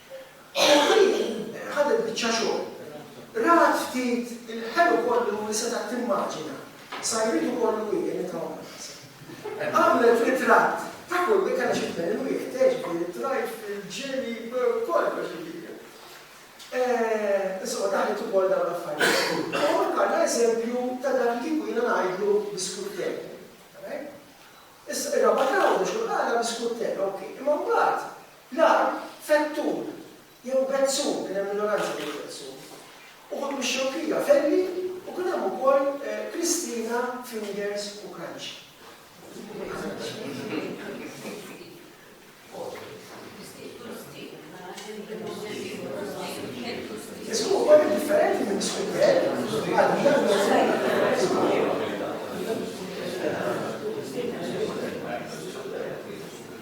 Ħabibi ħadet biċċa xogħol. Rat ftit il-ħelu kollu li setgħet timmaġina, sajritu kollu hi li trawwmet. Għamlet ritratt ta' kull li kellha xi tmien il-wieħed, eh, ġifieri t-trajt fil-ġieli, kollox ġifieri. Eh, insomma, daħlet ukoll dawn l-affarijiet. U għandna eżempju ta' dak li kieku jiena ngħidlu biskuttek. Issa, ir-raba' trawwem xi għala biskuttek, ok. Imma mbagħad L-arm, fettur, jew bezzum, kien hemm minoranza ta' bezzum, uħud mix-Xewkija, Velli, u kien hemm ukoll Kristina, fingers, u kranċi. Ismu ukoll differenti minn Swidel għal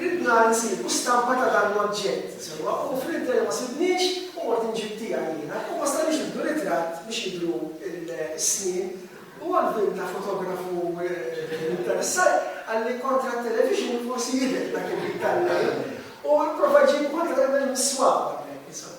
Ridna nsibu stampa ta' dan l-oġġett, sewwa hu fl-interim ma sibniex u mort inġib tiegħi jiena u ma stajniex nieħdu ritratt biex jidhru s-snien u għall-vim ta' fotografu interessat qalli kontra t-television forsi jidher dak il-ħin tal-lejl u pprova jġibu anke darbtejn mis-swaba hemmhekk insomma.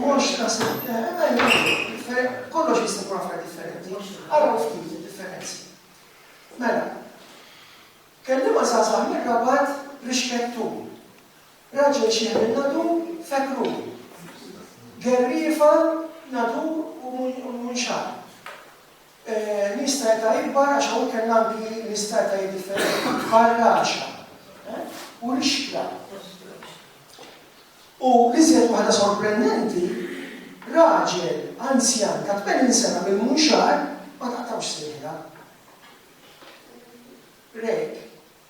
Mhux tassew. Kollox jista' jkun affarijiet differenti. Araw ftit id-differenzi. Mela, kelliema żgħażagħ mir-Rabat rixket tul. Raġel xiħel in-nadur fekk ruħu. Gerriefa nadur u munxar. Nies ta' età ikbar għax hawn kellna anki nies ta' etajiet differenti, bħal Raxa u Rixkla. U l-iżjed waħda sorprendenti, raġel anzjan ta' 80 sena mill-Munxar ma taqtawx sejħilha. Rejk.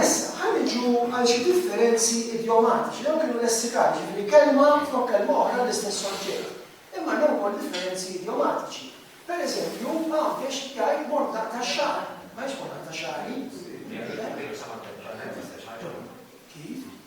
Issa, ħa niġu għal xi differenzi idiomatiċi. Dawn kienu lessikali, jiġifieri kelma flok kelma oħra għall-istess oġġett. Imma hemm ukoll differenzi idiomatiċi. Per eżempju, Għawdex jgħid mortaq tax-xagħar, ma jgħidx mortaq ta' xagħri. Kif?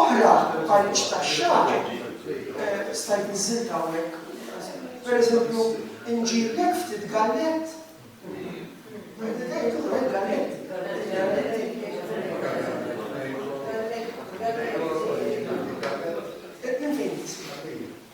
Oħra bħal biex taxxar, stajt niżilta hawnhekk. Per eżempju, inġiblek ftit gallett. Gallett.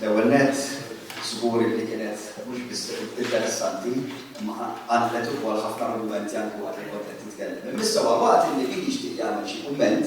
L-ewwel nett, żgur li kienet mhux biss interessanti, imma għandlet ukoll ħafna argumenti anke waqt li kont qed titkellem. Imma issa huwa waqt li min jixtieq jagħmel xi kumment,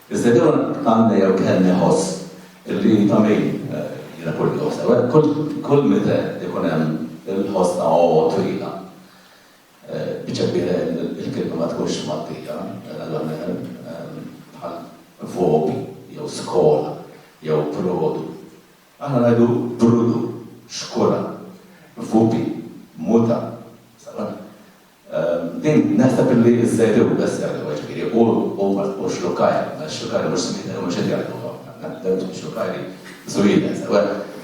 Iżda kemm għandna jew kemm iħoss li ta' min jiena kull jum sew hekk, kull meta jkun hemm il-ħoss ta' għowa twila, biċċa kbira il-kelma ma tkunx mgħaddija la meher bħal vobi jew skola jew produ. Aħna ngħidu brudu, xkura, vubi, muta, sew hekk. Din naħseb illi iżżejjed hu best jgħid huwa ġifieri hu u xlukajr, għax xlukajr mhux smiet għaliex mhux qed jgħidu ħafna, dawn huma xlukajri żwieled.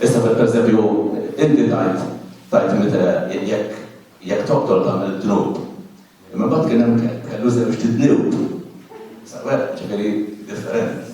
Issa pereżempju inti tgħid tgħid meta jekk jekk toqtol tagħmel dnub. Imma mbagħad kien hemm kelb kellu żewġt idnub. Sewwa, ġifieri differenti.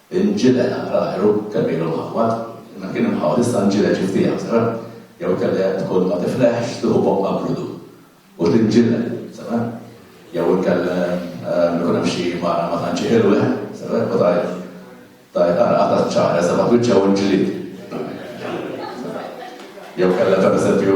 Inġileq naqra għajru, kemm ilu mgħammad, imma kien imħawwad issa nġileq xi ftit aktar, jew inkella jekk tkun ma tifleħx tieħu boqqa brudu u tinġileq, sewa? Jew inkella ikun hemm xi mara ma tantx ħilweh, sewa, u tgħid, tgħid ara qatgħet ċ-ċagħar issa baqgħet wiċċha u l-ġlied. Jew inkella pereżempju,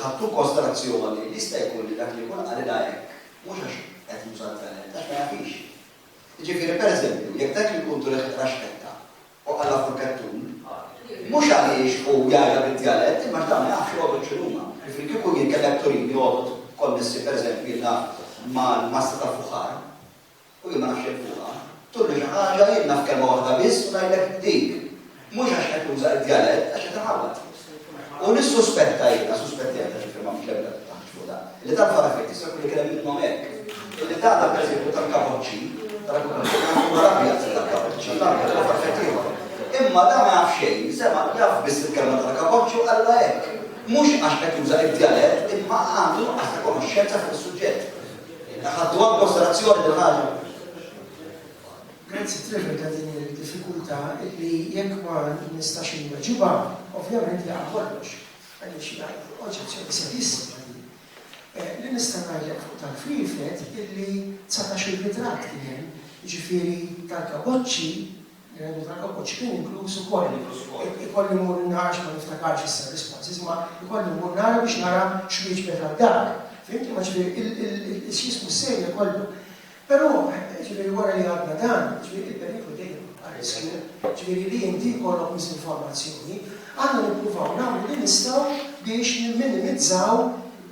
Ħadt inkostrazzjoni li jista' jkun li dak li jkun qalilha hekk mhux għax qed juża l-veled, għax ma jafhiex. Jiġifieri, pereżempju, jekk dak il-kuntur iħeqq raxketta u qalha fuq il-kettun, mhux għaliex hu jgħidha bid-djalett imma għax dawn ma jafx jogħdod x'inhuma. Jiġifieri kieku jien kellek turini jogħdod konnessi pereżempju jiena mal-massa tal-fuħar, u jien ma nafx jekk fuqha, turni xi ħaġa, jien naf kelma waħda biss u ngħidlek dik. Mhux għax qed nuża d-djalett, għax qed inħawwad. U nissuspetta jiena, suspettejt għax il-kelma mhux l-ebda taħt fuq dan, li dan fara fejn tista' jkun li kien hemm minnhom hekk. Illi tagħna pereżempju tal-kapoċċi, tal-kapoċċi, huwa l-abjad tal-kapoċċi, l-abjad huwa f'effett ieħor. Imma dan ma jaf xejn, sema' jaf biss il-kelma tal-kapoċċi u qalilha hekk. Mhux għax qed juża d-djalett, imma għandu nuqqas ta' konoxxenza fuq is-suġġett. Ħadtuha inkonsiderazzjoni din ħaġa? Grazzi Trevor ta' din il-diffikultà illi jekk ma nistax inweġibha, ovvjament jaqa' kollox. Għaliex jgħid oġġezzjoni serissima din. Li nista' ngħidlek fuq tal-flieflet illi 19-il ritratt kien hemm, jiġifieri tal-kaboċċi L-għenni tal-kapuċċ kien inkluż ukoll. Ikolli mmur n-nar għax ma niftakarx issa r-responses ma ikolli mmur nara biex nara x'wieġbet għal dak. Fihimt imma ġifieri x'jismu s-serje kollha. Però ġifieri wara li għadna dan, ġifieri il-periklu dejjem jibqa' riskju, ġifieri li inti jkollok miżinformazzjoni. Aħna nippruvaw nagħmlu li nistgħu biex nimminimizzaw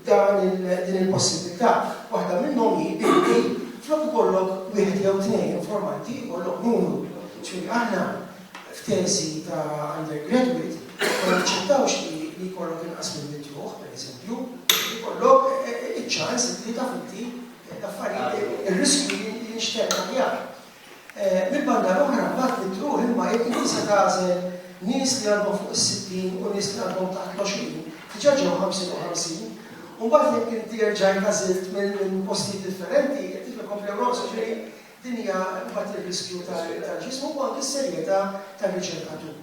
din il-possibbiltà. Waħda minnhom hi illi flok ikollok wieħed jew tnejn informanti jkollok numru. Ġifieri aħna f'teżi ta' undergraduate ma naċċettawx li jkollok inqas minn mitt ruħ, pereżempju, ikollok iċ-ċans li taf inti l-affarijiet, ir-riskju li jinxtemm aħjar. Mill-banda l-oħra, b'mod mitruħ imma, jekk inti se tagħżel nies li għandhom fuq is-sittin u nies li għandhom taħt l-għoxrin, diġà ġew ħamsin u ħamsin, u mbagħad jekk inti erġajt għażilt minn postijiet differenti, qed tifhem kemm bdew jonqsu. Jiġifieri, din hija mbagħad ir-riskju tal-ġismu u anki s-serjetà tar-riċerkatur.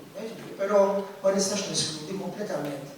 Però ma nistax neskludi kompletament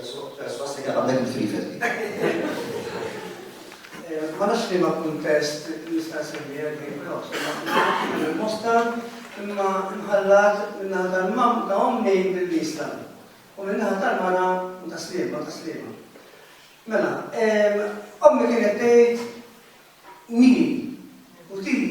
Swastika ta' Bernd Friedel. Ma nafx li ma kuntest nista' nsemmi għalli Cross, ma mosta imma nħallat minna tal-mam ta' ommi mill-lista. U minna tal-mara ta' slima, ta' slima. Mela, ommi kienet tgħid wini, u tini.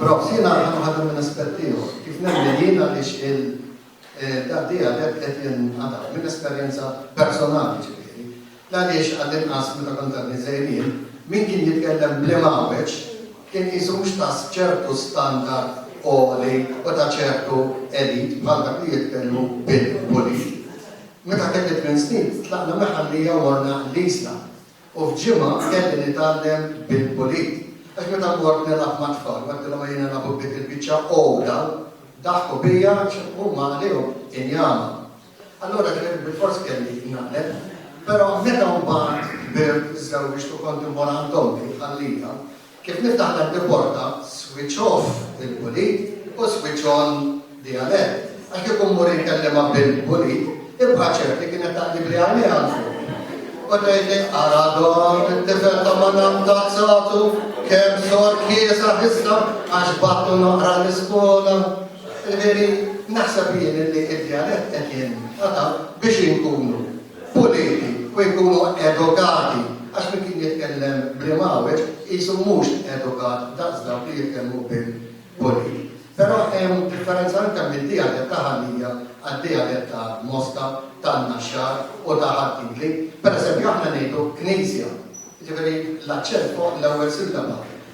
Però jiena ħa nħadem minn aspett ieħor, kif nemmen jien għaliex il-daqdiegħi għadhekk qed jinqatgħu, minn esperjenza personali ġifieri, l-għaliex għall-inqas meta kont għadni żgħir jien, min kien jitkellem bl-Imgħawweġ kien qisu mhux ta' ċertu standard għoli u ta' ċertu elite bħal dak li jitkellmu bil-Pulin. Meta kelli tmien snin, tlaqna minn Ħal-Lija u morna l-Isla, U f'ġimgħa kelli nitgħallem bil-pulit. Għax meta mmort nilgħab mat-tfal u għedtilhom ejja nilgħabu b'dik il-biċċa għoda, daħku bija għax huma għalihom injama. Allura kien bilfors kelli naqleb. Però meta mbagħad kbirt, żżewwiġt u kont immur għand ommi jħallija, Kif niftaħ dak l-porta, switch off il-pulit u switch on the alert, għax kieku mmur inkellimha bil-pulit, ibqa' ċert li kienet taqlibli għajnejha 'l fuq u tgħidli ara dan it-tifel ta' Madam Tazzatu kemm sor kiesa issa għax battu noqra l-iskola. Veri, naħseb jien li id-djalett qed jinqata' biex inkunu puliti u jkunu edukati għax min kien jitkellem bl-imgħawweġ qisu mhux edukat daqs dawk li jitkellmu bil-pulit. Però hemm differenza anke mid-dialett ta' Ħal-Lija għad-dialett ta' Moska, tan-Naxxar u ta' Ħad-Dingli. Pereżempju aħna ngħidu knisja, jiġifieri l-aċċent fuq l-ewwel sillaba.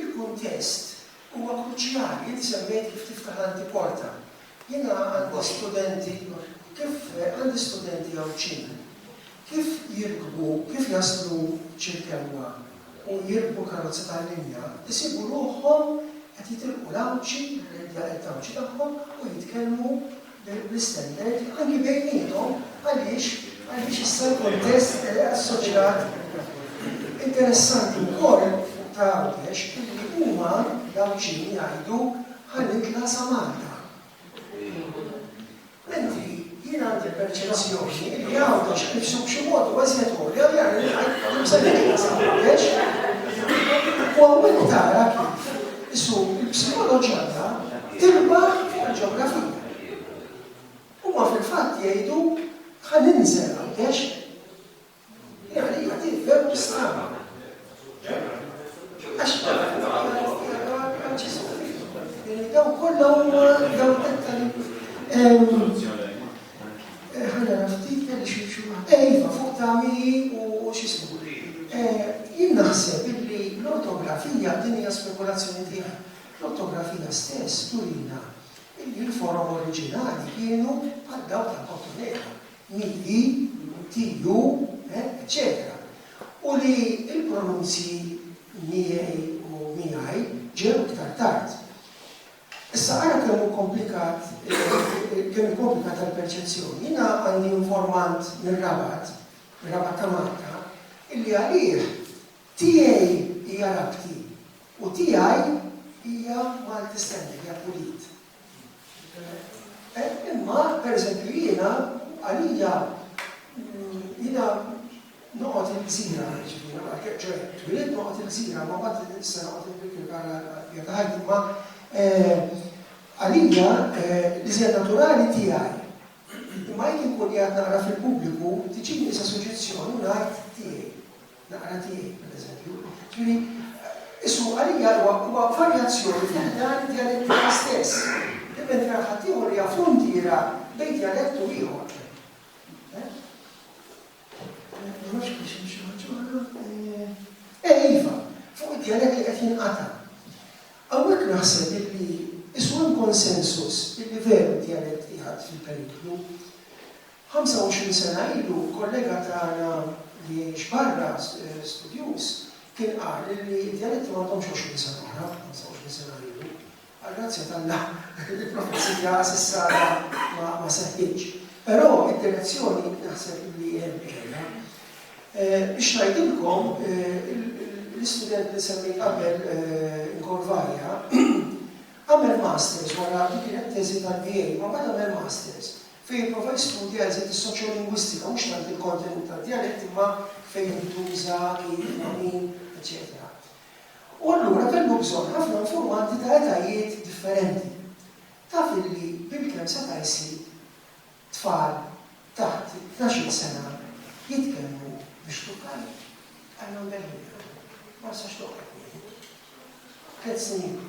Il-kuntest huwa kruċjali. Inti semmejt kif tiftaħ l-antiporta. Jiena għandi studenti, kif għandi studenti Għawdxin, kif jirkbu, kif jaslu Ċirkewwa u jirkbu karozza tal-linja, isibu ruħhom qed jitilqu l-Għawdxi, l-area qed tgħawdxi tagħhom u jitkellmu, l-istandard anki bejniethom għaliex għaliex issa l-kuntest assoċjat interessanti wkoll ta' Għawdex illi huma l-Għawdxin jgħidu ħa nitla' sa Malta. Mentri jien għandi l-perċezzjoni illi Għawdex nnifsu b'xi mod huwa iżjed għolja li għalli ngħid se nitla' sa Għawdex. U hawnhekk tara kif Qisu l-psikoloġija tirbaħ il-ġeografija. Huma fil-fatt jgħidu ħa ninżel Għawdex. Din għalija hi veru stramba. Għax dawn kollha huma dawn Eh, ħa nara ftit kelli xi xi Eh, iva, fuq tagħmili u x'ismu. Eh, jien naħseb illi l-ortografija din hija spekulazzjoni tiegħi. L-ortografija stess turina illi l-forom oriġinali kienu bħal dawk ta' Kottonera, mi, tiju, eccetera. Eh, u li l-pronunzji miegħi u miegħi ġew iktar tard. Issa ara kemm hu komplikat, kemm hi komplikata l-perċezzjoni. Jiena għandi informant mir-Rabat, mir-Rabat ta' Malta, illi għalih tiegħi hija Rabti u tiegħi hija Malti Standard, hija Pulit. Imma, pereżempju, jiena, għalija, jiena, Noqgħod il-gżira, jiġifieri meta ma ħkemm, ċoe, twielidt noqgħod il-gżira, imma mbagħad li nista' noqgħod il Brick il-Karn għall-bqija ta' ħajti, imma għalija l-iżjed naturali tiegħi. Imma jekk inkun qiegħed naqra fil-pubbliku, tiġini issa suġġezzjoni u ngħid tiegħi. Naqra tiegħi, pereżempju. Jiġifieri, issu għalija huwa huwa varjazzjoni fi ħdan id-djalettika stess. Mentre għal ħaddieħor hija fruntiera bejn djalett u ieħor. Nafx għaliex hemm xi ħaġa oħra. Eh, iva, fuq id-djalett li qed jinqata'. Hawnhekk naħseb illi isu hemm konsensus illi veru d-djalett qiegħed fil-periklu. 25 sena ilu kollega tagħna li jgħix barra eh, studjuż kien qal li d-djaletti ma għandhomx 20 sena oħra, 25 sena ilu. Għall-grazzja t'Alla, il-profezija s'issa għadha ma seħħitx. Però id-direzzjoni naħseb li hemm ġejja. Biex ngħidilkom, l-istudent li semmejt qabel Corvalia għamel masters wara li kienet teżi tad-DA, ma bada għamel masters fejn prova jistudja eżit is-soċjolingwistika mhux tant il-kontenut tad-djalett imma fejn jintuża, kif, min, eċċetera. U allura kellu bżonn ħafna informanti ta' etajiet differenti. Taf illi bilkemm seta' jsib tfal taħt it-tnax-il sena jitkellmu biex tukkani? I don't get it bro. Ma nistax toqgħod. Tliet snin ilu.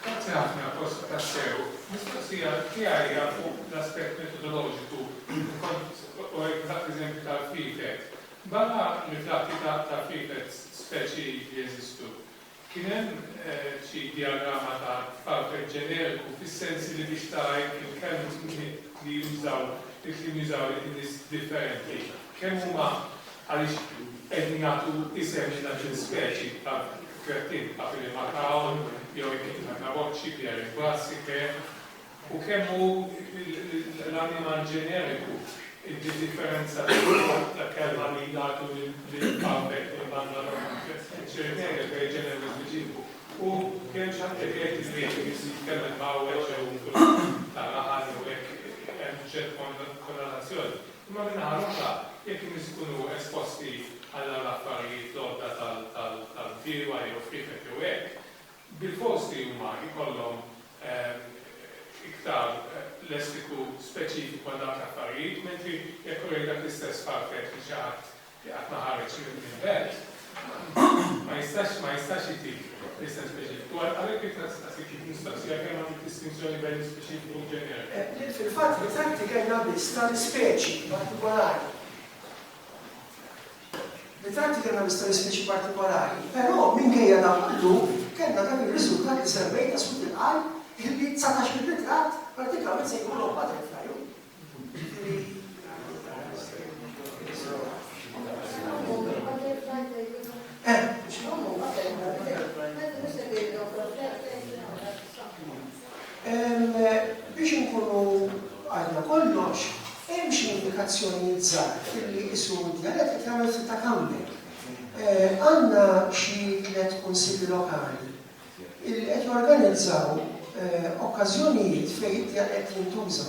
Grazzi ħafna, Kosta, tassew. Mistoqsija tiegħi hija fuq l-aspett metodoloġiku u hekk dak l-eżempju tal-free fed. Barra l-frakki ta' free fed speċi li jeżistu, Kien hemm xi dijagramma ta' tfalfel ġeneriku fis-sens li biex tara jekk il-kelms li jużaw il-kliem jużaw in-nies differenti kemm huma għaliex qegħdin jagħtu isem lil dak l-ispeċi ta' krettin, Papillimacaon, jew Echidna caboci, Pierre Bass, ikk. u kemm hu l-animal ġeneriku d-differenza ta' kelma li jagħtu lil Bambek jew Banda Loma, ċ-ċertene per generis dicitu, u kemm xi ħadd jaf jgħid li wieħed irid jitkellem b'għawweġ jew b'kulur ta' rahan jew hekk hemm ċerta konnotazzjoni. Imma min-naħa l-oħra, jekk in-nies ikunu esposti għal dawn l-affarijiet l-għodda tal-bdiewa jew frieħet jew hekk, Bilfors li huma jkollhom iktar lessiku speċifiku għal dawk l-affarijiet, mentri jekk urejt dak l-istess pamflett lil xi ħadd li qatt ma ħareġ mill-belt, ma jistax ma jistax jtik l-isem speċifiku. Għalhekk jekk nistaqsik jekk mistoqsija kemm għandek distinzjoni bejn l-ispeċifiku u l-ġeneru. Li fil-fatt ritratt ikelna biss tal-ispeċi partikolari. li tagħti kriminalistiċi partikolari, però minkejja dan kollu kellna dak ir-riżultat li semmejna sud il-qalb illi dsatax-il ritratt prattikament se jkunu butterfly. Biex inkunu għidna kollox, hemm xi indikazzjonijiet żgħar illi qisu d-djalett qed jagħmel ftit ta' comeback. Għandna xi tliet kunsilli lokali illi qed jorganizzaw okkażjonijiet fejn id-djalett jintuża.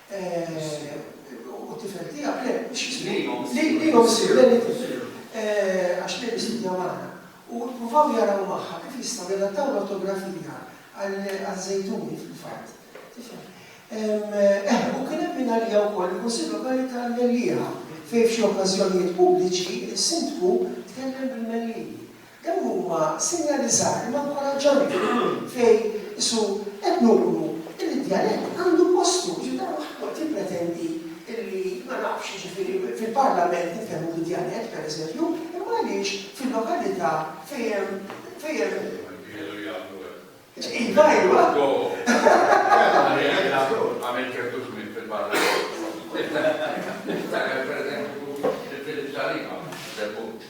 U t-tifel tiegħek le, mhux jismihom. Lilhom isir le tifel. Għax li jismihom magħna. U provaw jaraw magħha kif jistgħu jadattaw l-ortografija għal-żejtuni fil-fatt. Eh, u kien hemm minn għalija wkoll il-Kunsill Lokali tal-Mellieħa fejn f'xi okkażjonijiet pubbliċi s-sindku tkellem bil-Mellieħi. Dawn huma sinjali żgħar imma nkoraġġanti fejn isu qed nuru illi d-djalett għandu postu, jiġifieri dan mhux qed jippretendi illi ma nafx, jiġifieri fil-Parlament nitkellmu bid-djalett, pereżempju, imma għaliex fil-lokalità fejn hemm, fejn hemm. Iva, iva. Għamilt ċertu żmien fil-Parlament. Niftakar pereżempju li fil-Ġaliba, Żebbuġ.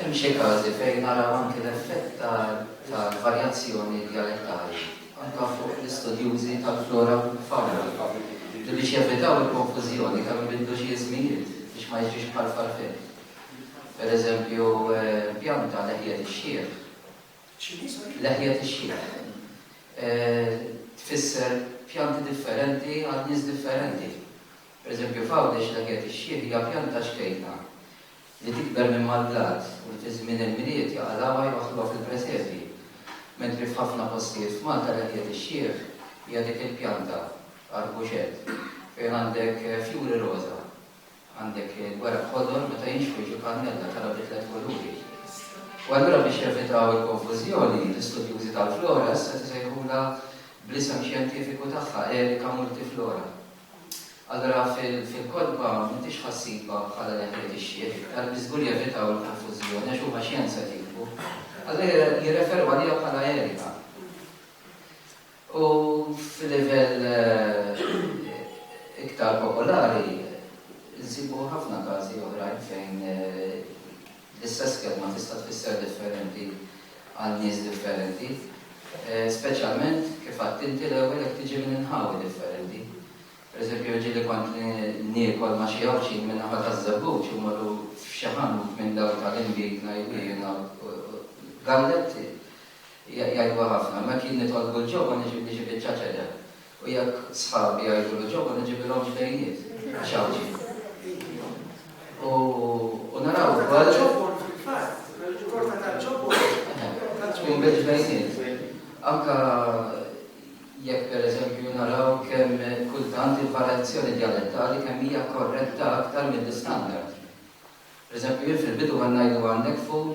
Hemm xi każi fejn naraw anki l-effett tal-varjazzjoni djalettali anke fuq l-istudjużi tal-flora u fawna li biex jevitaw il-konfużjoni kemm ibidlu xi ismijiet biex ma jiġrix bħal farfin. Per eżempju, pjanta leħja tix-xiħ. X'inhi, sorry? Leħja tix-xiħ. Tfisser pjanti differenti għal nies differenti. Per eżempju, f'Għawdex leħja tix-xiħ hija pjanta xkejkna li tikber minn mal-blat u li fi żmien il-Milied jaqalgħuha jwaħħluha fil-presepi. Mentri f'ħafna postijiet f'Malta leħja tix-xiħ hija dik il-pjanta, arbuxett, fejn għandek fjuri roża. Għandek il-weraq ħodor meta jinxħu jiġu kannella, tara bi tliet kuluri. U allura biex jevitaw il-konfużjoni, l-istudjużi tal-flora issa qed isejħulha bl-isem xjentifiku tagħha, Erica multiflora. Allura fil-kotba m'intix ħassiba bħala li ħdejt ix-xiħ iktar biex żgur jevitaw il-konfużjoni għax huma xjenza qed jiktbu. Allura jirreferu għaliha bħala Erica. U f'livell iktar popolari, insibu ħafna każi oħrajn fejn l-istess kelma tista' tfisser differenti għal nies differenti, speċjalment, kif għedt inti l-ewwel, jekk tiġi minn inħawi differenti. Per eżempju, jiġri li kont niekol ma' xi Għawdxin min-naħa taż-Żebbuġ u mmorru f'xi ħanut minn dawk tal-inbid ngħidu jiena u Galletti, Jgħiduha ħafna, mekk jien nitolbu l-ġewwa niġi biċċa ċedel, u jekk sħabi jgħidulu ġewwa niġibilhom ġbejniet, għax Għawdxi. U naraw ukoll. Ġobon fil-fatt, il-korta tal-ġobon. Tkun bil-ġbejniet. Anka jekk pereżempju naraw kemm kultant il-varjazzjoni djalettali kemm hija korretta aktar mill-istandard. Pereżempju jien fil-bidu kont ngħidu għandek ful,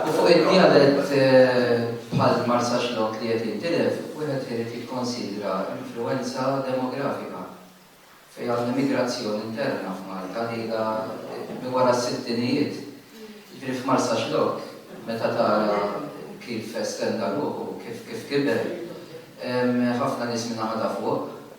U fuq id-djalett bħal Marsaxlokk li qed jintilef, wieħed irid jikkonsidra influwenza demografika fejn għandna migrazzjoni interna f'Malta li ilha minn wara s-sittinijiet. Jiġifieri f'Marsaxlokk meta tara kif estenda ruħu, kif kiber, hemm ħafna nies min-naħa ta' fuq,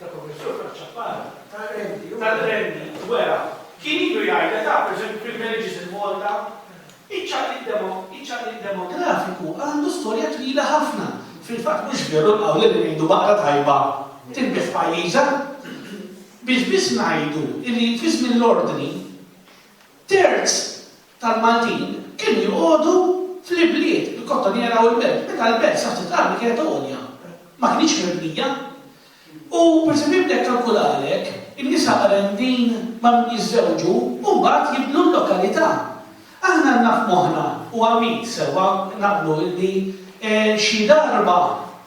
ta' Professur Frank Ciappara, tar-Renju, wera, kien ilu jgħid li ta' pereżempju privileges in Malta, iċ-ċaqliq demografiku għandu storja twila ħafna. Fil-fatt mhux veru l-qawl li ngħidu baqra tajba tinbigħ f'pajjiżha. Biex biss ngħidu li fi żmien l-Ordni, terz tal-Maltin kienu joqogħdu fl-ibliet, il-Kottoniera u l-Belt, meta l-Belt sa ftit armi kienet għolja, ma kinitx mibnija. U pereżempju jibda jikkalkulalek in-nisa qrendin ma' min jiżżewġu u mbagħad jibnu l-lokalità. Aħna għandna f'moħħna, u Għamid sewwa naqblu illi xi darba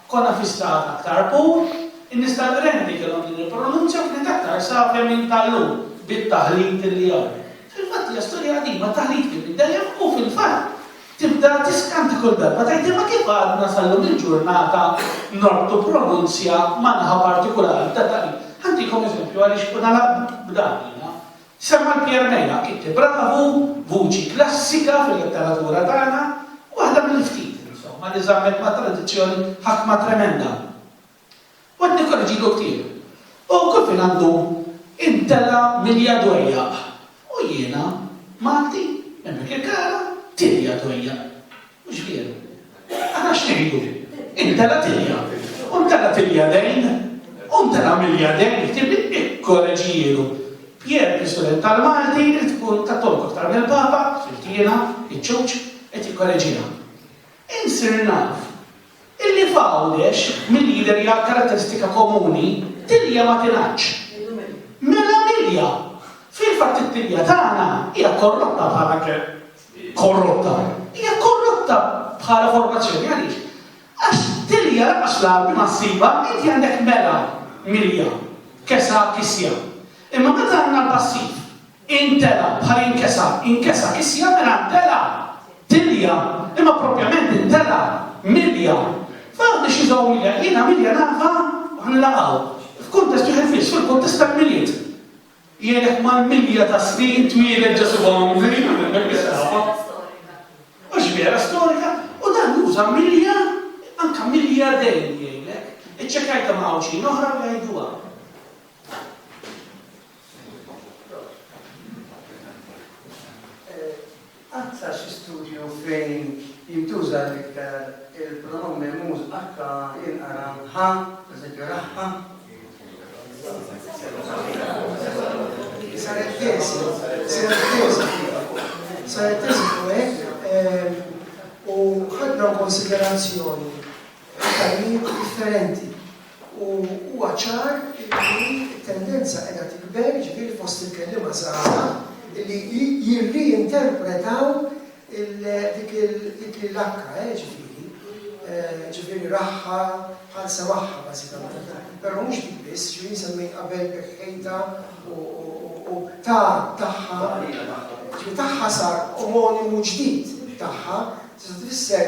konna fi stat aktar pur, in-nies tal-qrendi kellhom din il-pronunzja u kienet aktar savja minn tal-lum bit-taħlit li hawn. Fil-fatt hija storja qadima, taħlit kien minn dejjem u fil-fatt tibda tiskanti kull darba tgħid imma kif għadna sal-lum il-ġurnata norbtu pronunzja ma' naħa partikulari ta' taħlit. Ħa ntikom eżempju għaliex u nagħlaq b'dan jiena. Semma l-Pier Mela, Kitti Bravu, vuċi klassika fil-letteratura tagħna, waħda mill-ftit, insomma, li żammet ma' tradizzjoni ħakma tremenda. U qed nikkorreġilu ktieb. U kull fejn għandu imtela' milja dwejjaq. U jiena, Malti, minn dik il-kara, tilja dwejjaq. Mhux vjeru? Ara x'ngħidu, imtela' tilja. U mtela' tilja dejn. U mtela' milja dejn, ktieb ikkoreġielu. Pier, l-istudent tal-Malti, irid ikun kattoliku aktar mill-Papa, sirt jiena, iċ-ċuċ, qed jikkoreġiha. Insir naf illi f'Għawdex mill-leader jgħid karatteristika komuni, tilja ma tingħaddx. Mela milja! Fil-fatt it-tilja tagħna hija korrotta bħala korrotta. Hija korrotta bħala formazzjoni għaliex? Għax tilja lanqas l-Għarbi ma ssibha, inti għandek mela milja, kesa, kisja. Imma meta għandna l-passiv, Intela' bħal inkesa', inkesa' kisja' mela ntela', tilja', imma proprjament intela', milja'. F'għandi xi żgħurija jiena milja' nagħha u ħa nilaqgħu. F'kuntest wieħed biss, fil-kuntest tal-Milied. Jgħinek mal-milja ta' snin twieled Ġesù Bambin, milja ta' saħħa. U x'vera storika, u dan juża milja', anke milja' dejn jgħinek. Iċċekkjajtha ma' Għawdxin oħra u jgħiduha. Qatt sar xi studju fejn jintuża l-iktar il-pronom memuż akka jinqara ħa, pereżempju raħħa? Saret tesi, saret tesi, saret tesi fuq u ħadna konsiderazzjoni ta' differenti u huwa ċar illi t-tendenza qiegħda tikber, jiġifieri fost il-kelliema żgħażagħ illi jirriinterpretaw dik il-akka, jiġifieri, jiġifieri rahha bħal semagħha bażikament, però mhux dik biss, xi wħud semmejt qabel b'ħejta u ta' tagħha, jiġifieri tagħha sar omonimu ġdid tagħha, tista' tfisser